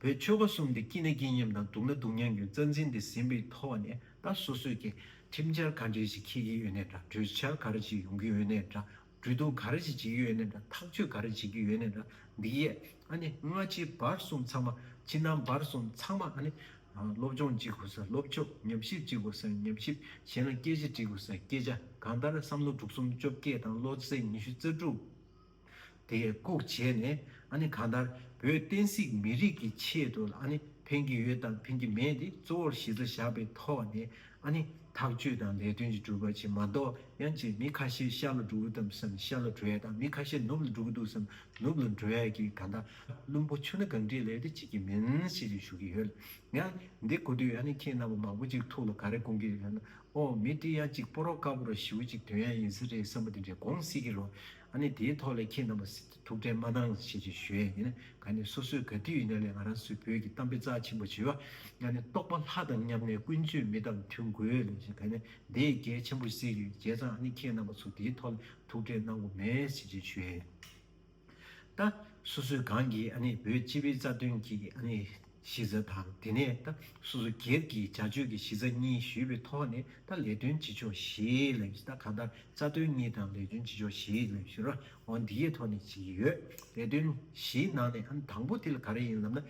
བོད་ཆོལ་ཁ་གསུམ་འདི་སྐྱིད་ན་སྐྱིད་མཉམ་དང་སྡུག་ན་སྡུག་མཉམ་གྱི་རྩ་འཛིན་འདི་ཟིན་པའི་ཐོག་བ་ནས་ད་སོ་སོས་ཀྱི་ཁྲིམས་འཆར་ག་འདྲས་ཞིག་འཁྱེར་གྱི་ཡོད་ནའི་འདྲ་གྲོས་འཆར་ག་རེ་ཞིག་ཡོང་གི་ཡོད་ནའི་འདྲ་འབྲུ་དུག་ག་རེ་བྱེད་ཀྱི་ཡོད་ནས་དང་ཐག་གཅོད་ག་རེ་བྱེད་ཀྱི་ཡོད་ནས་དང་འདི་ཡས་ཨ་ནི་སྔ་ཕྱི་བར་གསུམ་ཚང་མ་ཕྱི་ནང་བར་གསུམ་ཚང་མ་ཨ་ནི། སློབ་སྦྱོང་ཅི་དགོས་སར་སློབ་སྦྱོ་ཉམས་ཞིབ་ཅི་དགོས་སར་ཉམས་ཞིབ་གཞན་ལ་སྐད་ཆ་འདྲི་དགོས་སར་སྐད་ཆ་གང་ལྟར་བསམ་བློ་དྲུག་གསུམ་བཅོ་བརྒྱད་དང་བློ་རྩེ་ཉི་ཤུ་རྩ་དྲུག་དེ་བཀུག་བྱས་ནས་ཨ་ནི་གང་ལྟར་བོད་བསྟན་སྲིད་མི་རིགས་ཀྱི་ཆེད་དུ་ལ་ཨ་ནི་ཕན་གྱི་ཡོད་དང་ཕན་གྱི་མེད་དེ་གཙོ་བོར་གཞི་རྩ་བཞག་པའི་ཐོག་ནས་ཨ་ནི་ཐག་གཅོད་དང་ལས་དོན་གྱི་གྲུབ་པ་ཆེ་མ་གཏོགས་ཡང་ཅིག་མི་ཁ་ཤས་ཤར་ལ་འགྲོ་གི་དམ་བསམ་ཤར་ལ་འགྲོ་ཡ་དང་མི་ཁ་ཤས་ནུབ་ལ་འགྲོ་གི་འདུག་བསམ་ནུབ་ལ་འགྲོ་ཡ་གི་ད་ལྟ་བླུན་པོ་ཆུ་སྣ་གང་བྲིས་ལས་དེ་བྱེད་ཀྱི་མིན་ཞེས་ཀྱི་ཞུ་གི་ཡོད་ལ་ཡང་འདི་གོ་དུས་ཨ་ནི་ཁྱེད་རྣམ་པ་མང་པོ་ཅིག་ཐུགས་ལ་ག་རེ་སྐོང་གི་རེད་ལབ་ན་ཨོ་མི་ཏྲི་ཡང་ཅིག་སྤོ་རོག་དཀར་པོ་ར་ཞིའུ་ཅིག་དོན་ཡང་ཡིན་ས་རེད་བསམ་པ་དེ་འདྲས་དགོངས་སེ་གི་རོ་ཨ་ནི་དེའི་ཐོག་ལས་ཁྱེད་རྣམ་པ། ཐུགས་ཁྲལ་མ་གནང་ཞེས་ཀྱི་ཞུ་ཡས་ནི་ག་ནི་སོ་སོའི་ག་དུས་ཡིན་ན་ལས་ང་རང་སུས་བོད་ཀྱི་གཏམ་དཔེ་རྩ་ཆེན་པོ་བྱེད་པ་ང་ནི་རྟོགས་པ་ལྷ་དང་མཉམ་གནས་ཀུན་སྤྱོད་མི་དང་མཐུན་དགོས་ལས་ཞེས་ག་ནི་དེ་ཡི་གལ་ཆེན་པོ་ཞིག་ཡོད་བྱས་ཙང་ཨ་ནི་ཁྱེད་རྣམ་པ་ཚོ་དེའི་ཐོག་ལ་ཐུགས་ཁྲལ་གནང་དགོས་མེད་ཞེས་ཀྱི་ཞུ་ཡས་ད། སོ་སོའི་གང་གིས་ཨ་ནི་བོད་སྤྱི་བའི་རྩ་དོན་གྱི་ཨ་ནི། གཞི་རྩ་དང་དེ་ནས་ད་སོ་སོ་སྒེར་གྱིས་བྱ་སྤྱོད་ཀྱི་གཞི་རྩ་གཉིས་ཞུས་པའི་ཐོག་ནས་ད་ལས་དོན་བྱེད་ཕྱོགས་བཞིའི་ལས་གཞི་ད་གང་ལྟར་རྩ་དོན་གཉིས་དང་ལས་དོན་བྱེད་ཕྱོགས་བཞིའི་ལས་གཞི་རོ་འོང་འདིའི་ཐོག་ནས་བྱེད་ཀྱི་ཡོད། ལས་དོན་བཞིའི་ནང་ནས་ཨང་དང་པོ་དེ་ལ་ག་རེ་ཡིན་ལབ་ན།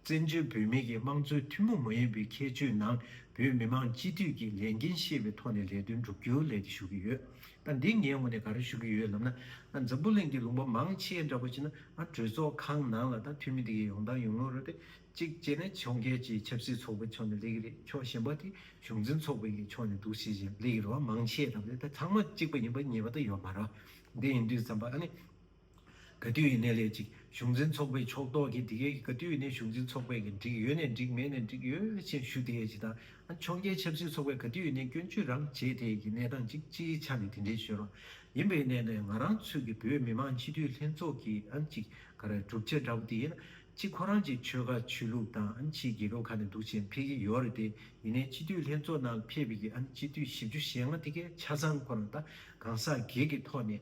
བཙན་བྱོལ་བོད་མི་གི་དམངས་གཙོའི་ཐུན་མོང་མ་ཡིན་པའི་ཁྱད་ཆོས་ནང་བོད་མི་མང་སྤྱི་འཐུས་ཀྱི་ལས་འགན་ཤེས་པའི་ཐོག་ནས་ལས་དོན་བསྒྲུབ་རྒྱུའི་ལས་དེ་ཞུ་གི་ཡོད། ད་འདི་ངའི་ངོ་ནས་ག་རེ་ཞུ་གི་ཡོད་ལབ་ན། འཛམ་བུ་གླིང་གི་ལུང་པ་མང་ཆེ་འདྲ་པོ་ཆེ་ན་གྲོས་ཚོགས་ཁང་ནང་ལ་ད་འཐུས་མི་དེ་གས་ཡོང་དང་ཡོང་ངོ་རོ་ཏེ་གཅིག་བྱས་ན་ཕྱོགས་འགལ་གྱི་ཆབ་སྲིད་ཚོགས་པའི་ཕྱོགས་ནས་ལེགས་ཀྱི་རེད་ཕྱོགས་གཞན་པ་དེ་གཞུང་འཛིན་ཚོགས་པའི་ཡི་ཕྱོགས་ནས་འདུག་ཤེས་ཤེས་ལེགས་ཀྱི་རེད་བ་མང་ཆེ་འདྲ་པོ་ཏེ་ད་ཚང་མ་གཅིག་པ་ཡིན་པ་ངེས་པ་ད་ཡོད་མ་རོ། དེ་ཡིན་དུས་འཛམ་པ་ཨ་ནི། ག་དུས་ཡིན་ནའི་ལས་ཀྱི་གཞུང་འཛིན་ཚོགས་པའི་ཕྱོགས་གཏོགས་ཀྱིས་དེ་གའི་གི་ག་དུས་ཡིན་ནའི་གཞུང་འཛིན་ཚོགས་པའི་གི་འགྲིག་ཡོད་ནའི་འགྲིག་མེད་ནའི་འགྲིག་ཡོད་ཅེས་ཞུ་དེ་གའི་དང་ཨ་འཕྱོངས་རྒྱའི་ཆབ་སྲིད་ཚོགས་པའི་ག་དུས་ཡིན་ནའི་སྐྱོན་བརྗོད་རམ་བྱས་དེ་གའི་གནས་སྟངས་ཅིག་སྤྱིའི་ཆ་ནས་དེ་འདྲའི་ཞོལ་ལོ་ཡིན་པའི་གནས་ནས་ང་རང་ཚོས་གི་བོད་མི་མང་སྤྱི་འཐུས་ལྷན་ཚོགས་ཀྱི་ཨང་ཅིག་ག་རེ་གྲུབ་ཆ་འདྲ་བོ་དེ་ཡིན་ན་ཅིག་ཁོ་རང་ཅིག་ཆོལ་ཁ་ཆོས་ལུགས་དང་ཨང་ཅིག་རྒྱལ་ཁབ་ག་ནས་འདུག་བྱས་འཕེལ་གི་ཡོད་རེད་དེ་ཡིན་ནའི་སྤྱི་འཐུས་ལྷན་ཚོགས་ནང་ལ་ཕེབས་པའི་གི་ཨང་སྤྱི་འཐུས་བཞི་བཅུ་ཞེ་ལྔ་དེ་གའི་ཆ་ཚང་ཁོ་རང་ད་གང་ཟག་སྒེར་གི་ཐོག་ནས་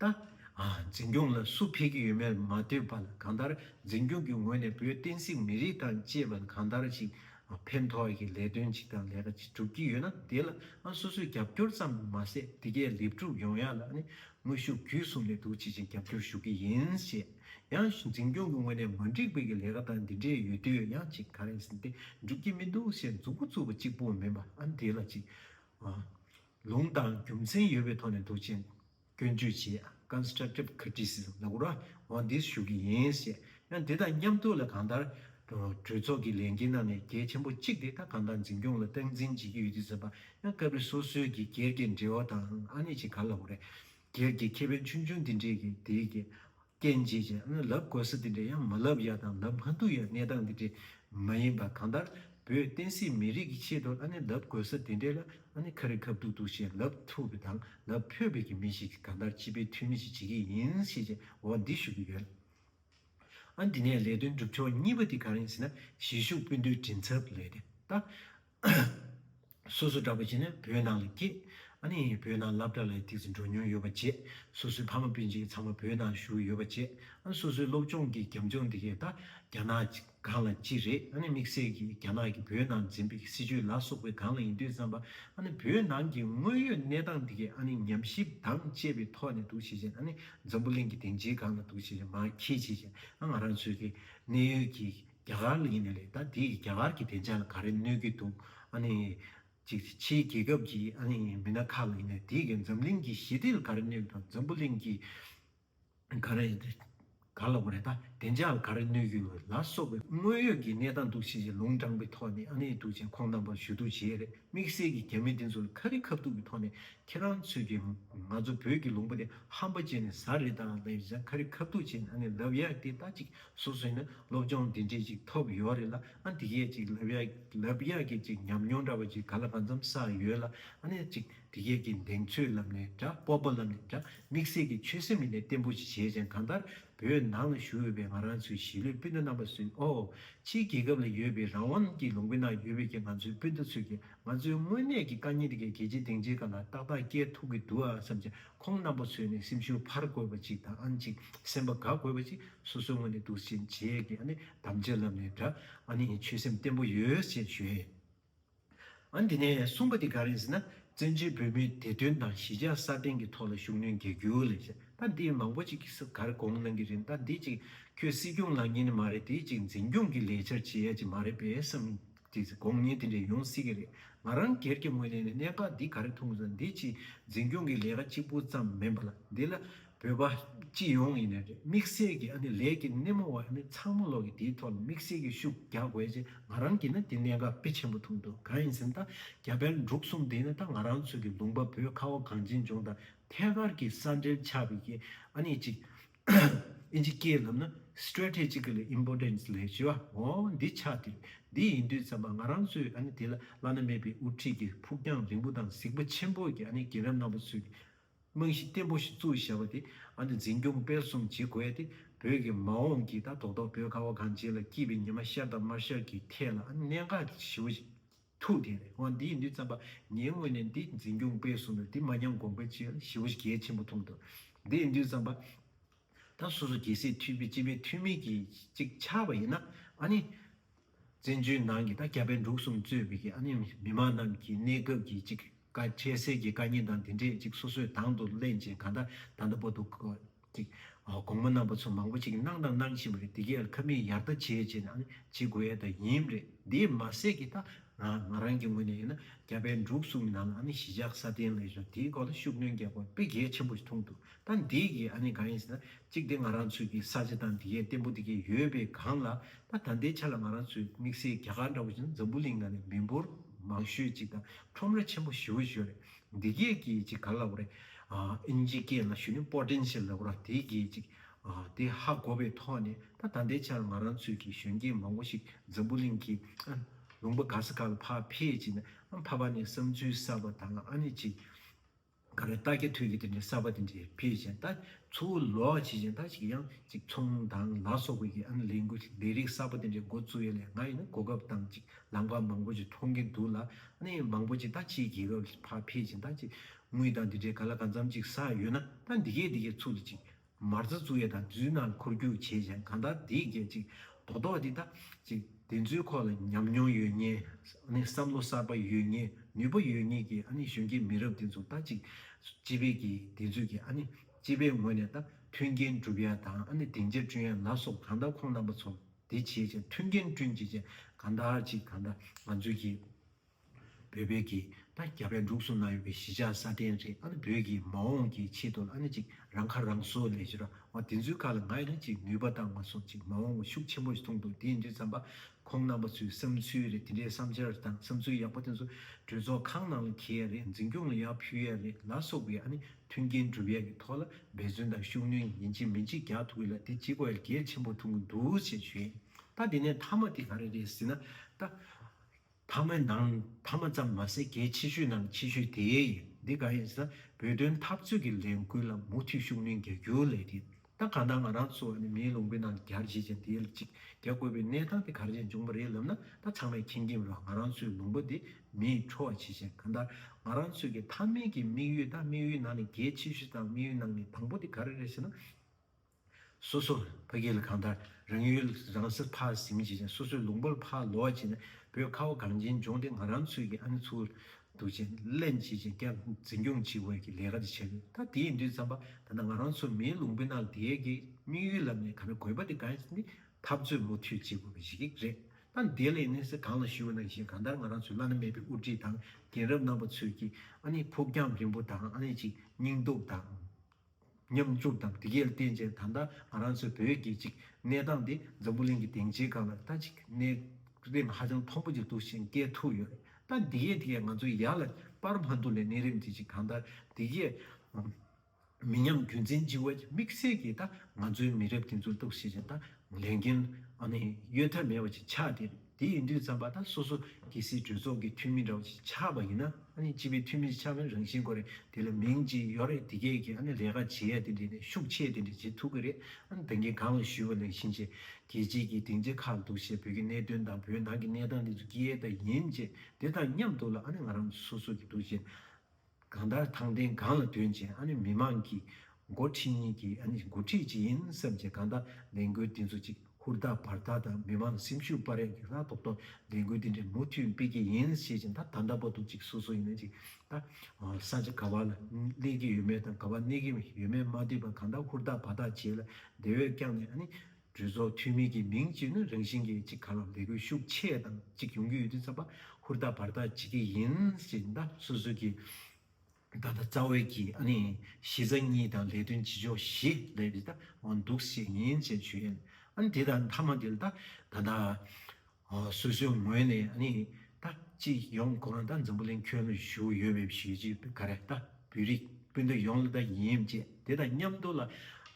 ད། འཛིན་སྐྱོང་ལ་སུ་ཕེབས་ཀྱི་ཡོད་མེད་མ་ལྟོས་པར་གང་ལྟར་འཛིན་སྐྱོང་གི་ངོས་ནས་བོད་བསྟན་སྲིད་མི་རིགས་དང་བཅས་པ་གང་ལྟར་ཞིག་ཕན་ཐོགས་ཀྱི་ལས་དོན་ཅིག་དང་ལས་ཀ་ཅིག་སྒྲུབ་ཀྱི་ཡོད་ན་དེ་ལ་སོ་སོས་རྒྱབ་སྐྱོར་ཙམ་མ་ཟད་དེ་གའི་ལེབ་ཕྲུག་ཡོངས་ཡག་ལ་དངོས་ཤུགས་བརྒྱུད་གསུམ་ནས་འདུ་བྱེད་ཅིག་རྒྱབ་སྐྱོར་ཞུ་གི་ཡིན་ཞེས་ཡང་འཛིན་སྐྱོང་གི་ངོས་ནས་མ་འགྲིག་པའི་གི་ལས་ཀ་དང་འདི་འདྲའི་ཡོད་དུས་ཡང་ཅིག་ག་རེ་ཟིན་ཏེ་འགྲུབ་ཀྱི་མི་འདུག་ཞེས་མཛུབ་མོ་བཙུགས་པ་གཅིག་པོ་མིན་པ་ཨ་འདི་ལ་ཅིག། ལུང་དང་རྒྱུ་མཚན་ཡོད་པའི་ཐོག་ནས་འདུ་བྱེད་སྐྱོན་བརྗོད་ཆེད Constructive Criticism ལ་ཀུར་བྷང་དེས་ཞུ་གི་ཡིན་ཞེས་ཡང་དེ་དང་མཉམ་དུ་ལ་གང་ལྟར་གྲོས་ཚོགས་ཀྱི་ལས་འགན་ནང་ནས་གལ་ཆེན་པོ་གཅིག་དེ་ད་གང་ལྟར་འཛིན་སྐྱོང་ལ་སྟངས་འཛིན་བྱེད་ཀྱི་ཡོད་དུས་ཟེར་པ་ཡང་སྐབས་རེ་སོ་སོའི་གི་སྒེར་གྱི་འབྲེལ་བ་དང་ཨ་ནེ་ཆེ་ག་ལ་ཀུ་རེ་སྒེར་གྱི་ཁེ་ཕན་ཆུང་ཆུང་དེ་འདྲས་ཀྱིས་དེའི་གི་སྐྱེ་འཇིག་ཅེས་ནི་ལབ་དགོས་ས་དེ་འདྲའི་ཡང་མ་ལབ་ཡ་དང་ལབ་མ་འདུག་ཡ་གནས་སྟངས་དེ་འདྲའི་མ་ཡིན་པ་གང་ལྟར་བོད་བསྟན་སྲིད་མི་རིགས་ཀྱི་ཆེད་དུ་ཨ་ནི་ལབ་དགོས་ས་དེ་འདྲའི་ལ་ཨ་ནི་ཁ་རི་ཁ་བཏུག་བཏུག་བྱས་ལབ་ཐུབ་པའི་དང་ལབ་ཕོད་པའི་གི་མི་ཞིག་གིས་གང་ལྟར་སྤྱི་པའི་འཐུས་མི་ཞིག་བྱེད་ཀྱི་ཡིན་ཤེས་ཆེད་འོ་འདི་ཞུ་གི་ཡོད། ཨ་འདི་ནས་ལས་དོན་སྒྲུབ་ཕྱོགས་གཉིས་པ་དེ་གང་ཡིན་ཟེར་ན་གཞིས་བཞུགས་སྤུན་བསྡུའི་མགྲིན་ཚབ་ལས་དེ་ལྟ། སོ་སོ་འདྲ་བོ་བྱས་ན་བོད་ནང་ལ་སྐྱེས། ཨ་ནེ་ཡིས་བོད་ནང་ལབ་གྲྭ་ལ་ཐིག་ཚེ་འགྲོ་མྱོང་ཡོད་པ་བཅས་སོ་སོའི་ཕ་མ་སྤུན་མཆེད་ཚང་མ་བོད་ནང་བཞུགས་ཡོད་པ་བཅས་ཨ་སོ་སོའི་སློབ་སྦྱོང་གི་རྒྱབ་ལྗོངས་འདི་གས་ད་རྒྱ་ནག་གི་སྒང་ལ་ཅི་རེད་ཨ་ནེ་དམིགས་བསལ་གྱིས་རྒྱ་ནག་གིས་བོད་ནང་འཛིན་པའི་སྲིད་ཇུས་ལ་སོགས་པའི་སྒང་ལ་ཡིན་དུས་བསམ་པ་ཨ་ནེ་བོད་ནང་གི་དངོས་ཡོད་གནས་སྟངས་འདི་གས་ཨ་ནེ་ཉམས་ཞིབ་དང་བཅས་པའི་ཐོག་ནས་འདུག་བྱེད་བྱེད་ཨ་ནེ་འཛམ་བུ་གླིང་གི་སྡིངས་ཆའི་སྒང་ལ་འདུག་བྱེད་བྱེད་མ་ཁྱེད་བྱེད་བྱེད་ཨ་ང་རང་ཚོའི་གི་གནས་ཡུལ་གྱི། རྒྱ་གར་ལ་ཡིན་ན་ལེགས་ད་དེས་རྒྱ་གར་གྱི་བདེ་འཇགས་ལ་ག་རེ་གནོད་ཀྱི་འདུག་ཨ་ནི། ཕྱིའི་རྒྱལ་ཁབ་ཀྱི་ཨ་ནི་མི་སྣ་ཁག་ལ་ཡིན་ན་དེས་འཛམ་གླིང་གི་ཞི་བདེ་ལ་ག་རེ་གནོད་ཀྱི་དང་འཛམ་བུ་གླིང་གི་ག་རེ་ག་ལ་ག་རེ་ད་བདེ་འཇགས་ལ་ག་རེ་གནོད་ཀྱི་ལ་སོགས་པའི་དངོས་ཡོད་ཀྱི་གནས་སྟངས་འདུག་ཅེས་ཅེས་ལུང་དྲངས་པའི་ཐོག་ནས་ཨ་ནི་འདུག་ཅེས་ཁོང་རྣམ་པར་ཞུ་གཏུག་བྱས་རེད་དམིགས་བསལ་གྱི་རྒྱ་མི་དེ་ཚོ་ལ་ཁ་རི་ཁ་ཐུག་གི་ཐོག་ནས་ཁྱེད་རང་ཚོས་ཀྱི་ང་ཚོ་བོད་ཀྱི་ལུང་པ་དེ་ཧམ་པ་བྱས་ནས་ཟ་རེད་ད་ལབ་ཡ་ཁ་རི་ཁ་ཐུག་བྱས་ནས་ཨ་ནི་ལབ་ཡ་དེ་ད་ཅིག་སོ་སོས་ནི་སློབ་སྦྱོང་འདི་འདྲའི་ཅིག་ཐོབ་ཡོད་རེད་ལ་ཨ་འདི་གས་ཅིག་ལབ་ཡག་ལབ་ཡག་གི་ཅིག་ཉམས་མྱོང་འདྲ་བ་ཅིག་ག་ལ་གང་འཚམ་བསགས་ཡོད་ལ་ཨ་ནས་ཅིག་འདི་གས་ཀྱི་གདེང་ཚོད་ལབ་ནས་འདྲ་སྤོབས་པོ་ལབ་ནས་འདྲ་དམིགས་བསལ་གྱི་ཆོད་སེམས་ཡེ་ནས་བརྟན་པོ་ཅིག་བྱས་ཅན་གང་ལྟར་བོད་ནང་ལ་བཞུགས་ཡོད་པའི་ང་རང་ཚོའི་གཞིས་ལུས་སྤུན་ཟླ་རྣམ་པ་ཚོས་ཨོ། ཕྱིའི་རྒྱལ་ཁབ་ལ་ཡོད་པའི་རང་དབང་གི་ལུང་པའི་ནང་ཡོད་པའི་ཀྱི་ང་ཚོའི་སྤུན་ཟླ་ཚོས་ཀྱི་ང་ཚོའི་དངོས་གནས་ཀྱི་དཀའ་ཉེན་འདི་གས་གལ་ཆེ་གདེང་ཆེ་ག་ལ་ཏག་ཏག་སྐྱེལ་ཐུབ་ཀྱི་འདུག་ཨ་བསམ་ཅིག་ཁོང་རྣམ་པ་ཚོས་ནི་སེམས་ཤུགས་འཕར་དགོས་པ་ཅིག་དང་ཨང་ཅིག་སེམས་པ་འགག་དགོས་པ་ཅིག་སོ་སོའི་ངོས་ནས་འདུག་ཅེས་རྗེས་ཀྱི་གདམ་བྱའི་ལམ་ནས་འདྲ་ཨ་ནི་ཆོད་སེམས་བརྟན་པོ་ཡོད་ཅེས་བརྗོད། ཨ་འདི་ནས་གསུངས་པ་འདི་ག་རེད་ཟེར་ན་བཙན་བྱོལ་བོད་མིའི་བདེ་དོན་དང་གཞིས་ཆགས་སྲ་བརྟན་གྱི་ཐོག་ལ་ཤུགས་སྣོན་རྒྱག་རྒྱུ་ལས་ཞེ་ད་འདིར་མང་པོ་ཅིག་གིས་གར་དགོངས་གནང་གི་རེད་ད་འདི་ཅིག་ཁྱོད་སྲིད་སྐྱོང་ལངས་ཉེན་མ་རེད་དེ་ཅིག་འཛིན་སྐྱོང་གི་ལས་འཆར་བྱེད་ཡ་ཅིག་མ་རེད་པས་སམ། དེས་དགོངས་ཉེས་དེ་འདྲས་ཡོང་སྲིད་ཀྱི་རེད། ང་རང་སྒེར་གྱི་ངོས་ནས་ནི་གནད་འགག་འདི་ག་རེ་མཐོང་ཟིན་འདི་ཕྱིའི་འཛིན་སྐྱོང་གི་ལས་ཀ་གཅིག་པུ་ཙམ་མིན་པ་ལ་འདི་ལ་བོད་པ་སྤྱི་ཡོངས་ཡིན་ནི་རེད་དམིགས་བསལ་གྱི་ཨ་ནི་ལས་ཀྱི་སྣེ་མོ་བ་ཨ་ནི་ཚང་མ་ལོག་གི་དེའི་ཐོག་ལ་དམིགས་བསལ་གྱི་ཤུགས་རྒྱག་དགོས་ཅེས་ང་རང་གིས་ནི་དེ་གནད་འགག་དཔེ་ཆེན་པོ་མཐོང་འདུག་གང་ཡིན་ཟིན་ད་རྒྱ་བལ་འབྲུག་གསུམ་འདི་ནི་ད་ང་རང་ཚོའི་གི་ལུང་པ་བོད་ཁ་བ་གངས་ཅན་ལྗོངས་དང་ཐད་ཀར་གྱི་ས་འབྲེལ་ཆགས་པའི་གི་ཨ་ནི་གཅིག་ཨིན་ཇི་སྐད་ལམ་ན Strategically Importance ལས་བྱེད་པ་འོ་འདི་ཆ་དེ་འདི་ཡིན་དུས་ཙམ་པ་ང་རང་ཚོས་ཨ་ནི་དེ་ལ་བླ་ན་མེད་པའི་དབུ་ཁྲིད་ཀྱི་ཕུགས་རྒྱང་རིང་པོ་དང་གཟིགས་པོ་ཆེན་པོ་གྱི་ཨ་ནི་རྒན་རབས་རྣམ་པ་ཚོས་ཀྱི་རྨང་གཞི་བརྟན་པོ་ཞིག་བཙུགས་བཞག་པ་དེ་ཨ་ནི་འཛིན་སྐྱོང་སྤེལ་གསུམ་བྱེད་དགོས་ཏེ་བོད་ཀྱི་མ་འོངས་ཀྱི་ད་ཐོག་ཐོག་བོད་ཁ་བ་གངས་ཅན་ལ་སྐྱིད་པའི་ཉི་མ་ཤར་དང་མར་ཤར་གྱི་ཐད་ལ་ཨ་ནི་གནད་འགག་གི་ཞི་བ་ཞིག། ཐུགས་དགྱེས་ནས་ང་འདིའི་འདི་བརྩམས་པ། ངའི་སྔོན་ནས་འདི་འཛིན་སྐྱོང་སྤེལ་གསུང་ནས་འདི་མ་ཉམས་དགོངས་པའི་ཕྱིར་ཞི་བ་གལ་ཆེན་པོ་ཐུང་དུ་འདིའི་འདི་བརྩམས་པ། ད་སོ་སོ་རྒྱལ་སྲིད་འཐུས་པའི་སྤྱི་པའི་འཐུས་མི་གྱིས་ཅིག་ཆར་བ་ཡིན་ན་ཨ་ནི། བཙན་བྱོལ་ནང་གི་ད་རྒྱ་བལ་འབྲུག་གསུམ་གཙོས་པའི་ཨ་ནི་མི་མང་རྣམས་ཀྱིས་གནས་སྐབས་ཀྱི་ཅིག་བཀའ་བཅད་གསེར་གྱི་བཀའ་རྙིང་དང་འདི་འདྲས་ཅིག་སོ་སོའི་དང་དུ་གླན་ཅིང་གང་དག་དང་དུ་པོ་འདུག་གོ། ཅིག། དགོང་མོ་གནང་བ་ཚོ་མང་པོ་ཅིག་གནང་དང་གནང་བཞིན་པ་རེད་དེ་གའི་ཁབ་མིག་ཡར་ལྟ་བྱེད་ཅེས་ནའང་བྱེད་དགོས་ཡ་ད་ཡིན་རེད་དེ་མ་ཟད་ཀྱི་ད་རང་ང་རང་གི་ངོས་ནས་ཡིན་ན་རྒྱ་བལ་འབྲུག་གསུམ་གྱི་ནང་ལའང་གཞིས་ཆགས་ས་སྟེང་ལས་བཟོ་དེའི་སྐོར་ལ་ཤུགས་སྣོན་རྒྱག་དགོས་པའི་དཔེ་གལ་ཆེན་པོ་ཞིག་མཐོང་འདུག་ད་འདིའི་གི་ཨ་ནི་གང་ཡིན་ཟེར་ན་གཅིག་དེ་ང་རང་ཚོའི་གི་ས་ཆ་དང་འདི་གའི་བརྟན་པོ་འདི་གའི་ཡོད་པའི་སྒང་ལ་ད་ད་ལྟའི་ཆ་ལ་ང་རང་ཚོའི་དམིགས་བསལ་རྒྱ་གར་འདྲ་བོ་ཞིག་འཛམ་བུ་གླིང་ནང་ནས་མི་འབོར་མང་ཤོས་གཅིག་དང་ཁྲོམ་ར་ཆེན་པོ་ཞི་བོ་ཞིག་ཡོད་རེད་འདི་གའི་གི་གཅིག་ག་ལ་བོ་རེད་ཨིན་ཇི་སྐད་ལ་ཞུ་ནི Potential ལ་བོ་ར་དེའི་གི་གཅིག་དེ་ཧ་གོ་བའི་ཐོག་ནས་ད་ད་ལྟའི་ཆར་ང་རང་ཚོའི་གི་གཞོན་སྐྱེས་མང་བོ་ཞིག་འཛམ་བུ་གླིང་གི་ཨ་ལུང་པ་ག་ས་ག་ལ་ཕ་ཕེད་ཅིག་ན་ཨ་ཕ་ཕ་ནས་བསམ་ཚུལ་གསར་བ་དང་ཨ་ནི་གཅིག་ག་རེ་རྟགས་ཀྱི་དུས་ཀྱི་དེ་འདྲའི་གསར་པ་དེ་འདྲའི་ཕལ་ཆེན་ལྟ་ཚུལ་ལོག་བྱེད་ཅན་དག་ཅིག་གིས་ཡང་ཅིག་ཚོང་དང་ལ་སོགས་པའི་ཨང་ལས་འགུལ་ལས་རིགས་གསར་པ་དེ་འདྲའི་འགོ་བཙུགས་ཡོད་ལས་ང་ཡིན་ན་གོ་སྐབས་དང་ཅིག་ལམ་ཁ་མང་པོ་ཅིག་མཐོང་གིན་འདུག་ལ་གནས་མང་པོ་ཅིག་ད་ཕྱིའི་རྒྱལ་ཁབ་ལ་ཕ་ཕལ་ཆེན་དག་ཅིག་དངུལ་དང་དེ་འདྲའི་ག་ལ་ག་འཚམ་ཅིག་ཟག་ཡོད་ན་ད་འདི་གས་འདི་གས་ཚུགས་ལ་ཅིག་མར་རྩ་བཙུགས་ཡས་དང་བརྫུས་ནང་འཁོར་རྒྱུག་བྱེད་ཅིང་གང་ལྟར་དེའི་སྐད་ཅིག་རྡོག་རྡོག་འདི་དང་ཅིག་བདེན་རྫུན་ཁོག་ལ་ཉམས་མྱོང་ཡོད་ངེས་བསམ་བློ་གསར་པ་ཡོད་ངེས་ནུས་པ་ཡོད་ངེས་ཀྱི་གཞོན་སྐྱེས་མི་རབས་འདི་ཚོ་ད་ཅིག་སྤྱི་དཔལ་གྱི་བདེན་རྫུན་གྱི་སྤྱི་པའི་ངོས་ནས་ད་མཐུན་རྐྱེན་སྒྲུབ་ཡས་དང་བདེན་རྒྱ་བསྐྲུན་ཡས་ལ་སོགས་གང་ལྟར་ཁོང་རྣམ་པ་ཚོར་དེ་བྱེད་ཅིང་མཐུན་རྐྱེན་བསྐྲུན་བྱེད་ཅིང་གང་ལྟར་ཅིག་གང་ལྟར་ང་ཚོའི་སྐྱེས་བོད་བོད་ཀྱི་ད་རྒྱ་བལ་འབྲུག་གསུམ་ན་ཡོད་པའི་གཞིས་ཆགས་ས་གདན་རེ་ཨ་ནི་བོད་ཀྱི་མ་འོངས་ཀྱི་ཆེད་དུ་ཨ་ནི་ཅིག་རང་ཁ་རང་གསོ་ལས་གཞི་ར་བ་དེ་ཚོའི་ཁ་ལ་ང་རེ་ཅིག་ནུས་པ་བཏང་བ་སོགས་ཅིག་མ་འོངས་བ་ཤུགས་ཆེན་པོ་ཞིག་མཐོང་འདུག་དེ་འདྲའི་བསམ་པ་ཁོང་རྣམ་པ་ཚོའི་བསམ་ཚུལ་རེད་དེ་འདྲའི་བསམ་འཆར་དང་བསམ་ཚུལ་ཡག་པོ་དེ་ཚོ་གྲོས་ཚོགས་ཁང་ནང་ལ་གྱེས་ཡ་རེད་འཛིན་སྐྱོང་ལ་ཡར་ཕུལ་ཡ་རེད་ལ་སོགས་པའི་ཨ་ནི་མཐུན་རྐྱེན་སྒྲུབ་ཡ་གི་ཐོག་ལ་འབད་བརྩོན་དང་ཤུགས་སྣོན་ཡིན་གཅིག་མིན་གཅིག་རྒྱག་ཐུབ་ཡོད་ལ་དེ་གཅིག་བལ་གྱེར་ཆེན་པོ་འཐུང་གི་འདུག་ཅེས་བརྗོད་ཡིན་ད་དེ་ནས་མཐའ་མ་དེ་ག་རེ་རེད་ཟེར་ན་ད། ཐ་མའི་ནང་ཐ་མ་ཙམ་མ་ཟད་གལ་ཆེ་ཤོས་ནང་ཆེ་ཤོས་དེ་ཡིན། འདི་གང་ཡིན་ཟེར་ན་བོད་དོན་འཐབ་རྩོད་ཀྱི་ལས་འགུལ་ལ་མུ་མཐུད་ཤུགས་སྣོན་རྒྱག་རྒྱུ་ལས་དེ་ད་ག་ནང་ང་རང་ཚོ་ནི་མིའི་ལུང་པའི་ནང་གར་བཞེས་ཅན་དེ་ལ་ཅིག་རྒྱག་དགོས་པའི་གནས་སྟངས་དེ་ག་རེ་ནས་འབྱུང་པ་རེད་ལབ་ན་ད་ཚང་མས་མཁྱེན་གྱིན་ཡོད་ང་རང་ཚོའི་ལུང་པ་འདི་མིས་ཁྲོ་བ་བྱེད་ཅན་གང་ལྟར་ང་རང་ཚོས་ཀྱི་ཐ་མའི་གི་དམིགས་ཡུལ་ད་དམིགས་ཡུལ་ནང་ནས་གལ་ཆེ་ཤོས་དང་དམིགས་ཡུལ་ནང་ནས་དང་པོ་དེ་ག་རེ་རེད་ཟེར་ན། སོ་སོ་ཕ་སྐད་ལ་གང་ལྟར་རང་ཡུལ་རང་སར་ཕར་ཟིན་བྱས་ཀྱང་སོ་སོའི་ལུང་པར་ཕར་ལོག་བྱས་ན་བོད་ཁ་བ་གངས་ཅན་ལྗོངས་འདི་ང་རང་ཚོས་ཀྱི་ཨ་ནེ་ཚུར་འདུག་ཅེས་གླེང་བྱེད་ཅིང་སྐྱག་འཛིན་སྐྱོང་བྱེད་དབར་གྱི་ལས་ཀ་དེ་བྱས་ཡོད་ད་དེ་ཡིན་དུས་བརྩམས་པ་ད་ནང་ང་རང་ཚོ་མིའི་ལུང་པའི་ནང་འདས་ཀྱི་དམིགས་ཡུལ་ལ་མེད་ག་ན་དགོས་པ་དེ་གང་ཞིག་ནི་འཐབ་རྩོད་མུ་མཐུད་བྱེད་དགོས་པ་ཞིག་རེད་ད་འདས་ལས་གནས་ས་གང་ལ་བཞུགས་ན་བཞིན་གང་ལྟར་ང་རང་ཚོའི་བླ་ན་མེད་པའི་དབུ་ཁྲིད་དང་རྒན་རབས་རྣམ་པ་ཚོས་ཀྱི་ཨ་ནེ་ཕུགས་རྒྱང་རིང་པོ་དང་ཨ་ནེ་ཅིག་སྙིང་སྟོབས་དང། མཉམ་འཛུགས་དང་སྒྲིག་ཡལ་བརྟན་བཅས་ད་ལྟ་ང་རང་ཚོའི་བོད་རྒྱལ་གཅེས་ཀྱི་གནས་སྟངས་དེ་འཛམ་བུ་གླིང་གི་སྡིངས་ཆའི་སྒང་ལ་ལྟ་ཅི་གི་གནས་རིམ་ཧ་ཅང་མཐོན་པོ་ཅིག་འདུག་ཤིང་སྐད་ཐུག་ཡོད་རེད་ད་སྒྲིག་ཡལ་དེ་གས་ང་ཚོ་ཡར་ལ་པར་མ་འདུག་ལས་གནས་རིམ་གྱིས་ཅིག་གང་ལྟར་སྒྲིག་ཡལ་མི་ཉམས་རྒྱུན་འཛིན་གཅིག་བ་ཅིག་དམིགས་བསལ་གྱིས་ད་ང་ཚོའི་མི་རབས་འདི་ཚོར་གཏུགས་བྱེད་ཅིང་ད་ལས་འགན་གཡོལ་ཐབས་མེད་པ་ཅིག་ཆགས་བསྡད་རེད། དེ་ཡིན་དུས་བརྩམས་པ་དང་སོ་སོ་གེ་སྲིད་གྲོས་ཚོགས་ཀྱི་འཐུས་མི་འདྲ་བོ་ཞིག་ཆགས་པ་ཡིན་ན་ནི་སྤྱི་པའི་འཐུས་མི་ཞིག་ཆགས་པའི་རང་བཞིན་གོ་རེད་དེ་ལ་མིང་གཅིག་ཡོད་རེད་དེ་སྐད་ཀྱིས་ལས་ཀ་བྱེད་ཡ་དེ་འདྲས་ནས་ཤུགས་ཆེ་དེ་འདྲས་བྱེད་ཐུབ་ཀྱི་རེད་ད་ངས་གང་ལ་ཞུས་པ་ལས་གཞིན་ཆེ་གེ་སྤྱི་གྱི་སྡིངས་ཆ་ཁག་འདུག་ཞེས་བོད་ཀྱི་གནད་དོན་དང་བོད་ནང་གི་གནས་སྟངས་འདི་ཚོ་སྐད་ད་ཡིན་ཅེས་དེ་དང་མཉམ་འདུག་ལ་ང་རང་སོ་སོ་གེ་འདུག་ཅེས་གང་ལྟར་དང་བདེན་གང་ལ་དོན་ཅན་ཨ་ནི་མི་དམངས་ཀྱི་འགོ་ཁྲིད་གཉིས་ཀྱི་ཨ་ནི་འགོ་ཁྲིད་ཅིག་ཡིན་བསམ་གྱི་གང་ལྟར་ལས་འགུལ་འདི་ཚོ་གཅིག་ཧུར་ཐག་བར་ཐག་དང་མི་དམངས་ལ་སེམས་ཤུགས་སྤར་ཡང་ཡིག་ལྷག་ཐོག་ཏུ་ལས་འགུལ་འདི་འདྲ་མུ་མཐུད་སྤེལ་གྱི་ཡིན་ཞེས་ཀྱང་ད་ལྟ་བར་དུ་གཅིག་སོ་སོ་ཡིན་ན་གཅིག་ད་ས་ཆ་ག་བ་ལ་གནས་ཀྱི་ཡོད་མེད་དང་ག་བ་གནས་ཀྱི་ཡོད་མེད་མ་བལྟས་པར་གང་ལྟར་ཧུར་ཐག་བར་ཐག་བྱས་ལ་དེ་བས་ཀྱང་ནས་ཨ་ནི། གྲོས་ཚོགས་འཐུས་མི་གྱི་མིང་གཅིག་ནི་རང་བཞིན་གྱིས་གཅིག་ག་ལ་ལས་དགོས་ཤུགས་ཆེ་དང་གཅིག་ཡོང་གི་ཡོད་དུས་ཚགས་པ་ཧུར་ཐག་བར་ཐག་བྱེད་ཀྱི་ཡིན་ཞེས་ཟླ་སོ་སོ་གྱི་ད་ལྟ་རྩ་བའི་གི་ཨ་ནི་གཞི་རྩ་གཉིས་དང་ལས་དོན་བྱེད་ཕྱོགས་བཞི་ལས་རི་ད་འོང་འདུག་ཞེས་ཉིན་བྱེད་ཆོས་ཨ་ནི་དེ་དང་མཐའ་མ་དེ་ལ་ད་ད་ད། སུ་ཞིག་ངོས་ནས་ནི་ད་ཅི་ཡོང་དགོངས་ད་འཛམ་བུ་གླིང་ཁྱོན་ལ་བཞུགས་ཡོད་མེད་ཞུས་རྗེས་བུ་ག་རེད་ད་བོད་རིགས་སྤུན་ཟླ་ཡོངས་ལ་ད་ཡིན་ཅེས་དེ་དང་མཉམ་དུ་ལ་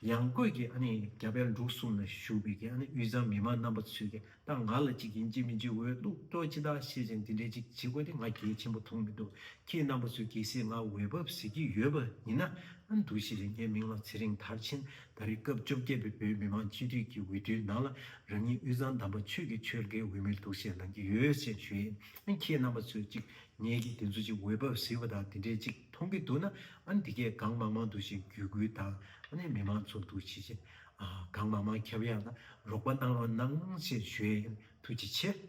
ཡང་བཀོད་ཀྱི་རྒྱ་བལ་འབྲུག་གསུམ་ལ་བཞུགས་པའི་དབུས་གཙང་མི་མང་རྣམ་པ་ཚོས་ཀྱི་ད་ང་ལ་ཅིག་ཡིན་ཅིག་མིན་ཅིག་འོས་བླུག་གཏོང་ཅི་ད་ཤེས་ཅིང་འདི་འདྲས་ཅིག་བྱེད་དགོས་དེ་ང་གལ་ཆེན་པོ་མཐོང་མི་འདུག་ཁྱེད་རྣམ་པ་ཚོས་གལ་སྲིད་ང་འོས་བབས་ཟེར་གྱི་ཡོད་པ་ཡིན་ན་འདུ་ཤེས་རིག་གནས་མིང་ལ་ཚེ་རིང་དར་ཆེན། ད་རེས་སྐབས་བཅོ་བརྒྱད་པའི་བོད་མི་མང་སྤྱི་འཐུས་ཀྱི་འོས་བསྡུའི་ནང་ལ་རང་ཉིད་དབུས་གཙང་དམ་པ་ཆོས་ཀྱི་ཆོལ་ཁའི་འོས་མིར་འདུག་བཞེས་གནང་གི་ཡོད་ཅེས་ཞུ་ཡིན་ཨང་ཁྱེད་རྣམ་པ་ཚོས་གཅིག་ངེད་ཀྱིས་དེ་ཚོ་གཅིག་འོས་བབ་ཟིན་པ་དང་དེ་འདྲའི་གཅིག་མཐོང་གི་འདུག་ན་ཨང་འདི་གས་གང་མང་མང་འདུག་ཞེས་བརྒྱུད་བསྐུལ་དང་ཨང་མི་མང་ཚོགས་འདུ་ཇི་བཞིན་གང་མང་མང་ཁྱབ་ཡག་ན་རོགས་པ་གནང་རོགས་གནང་ཞེས་ཞུ་ཡིན་ཐུགས་རྗེ་ཆེ།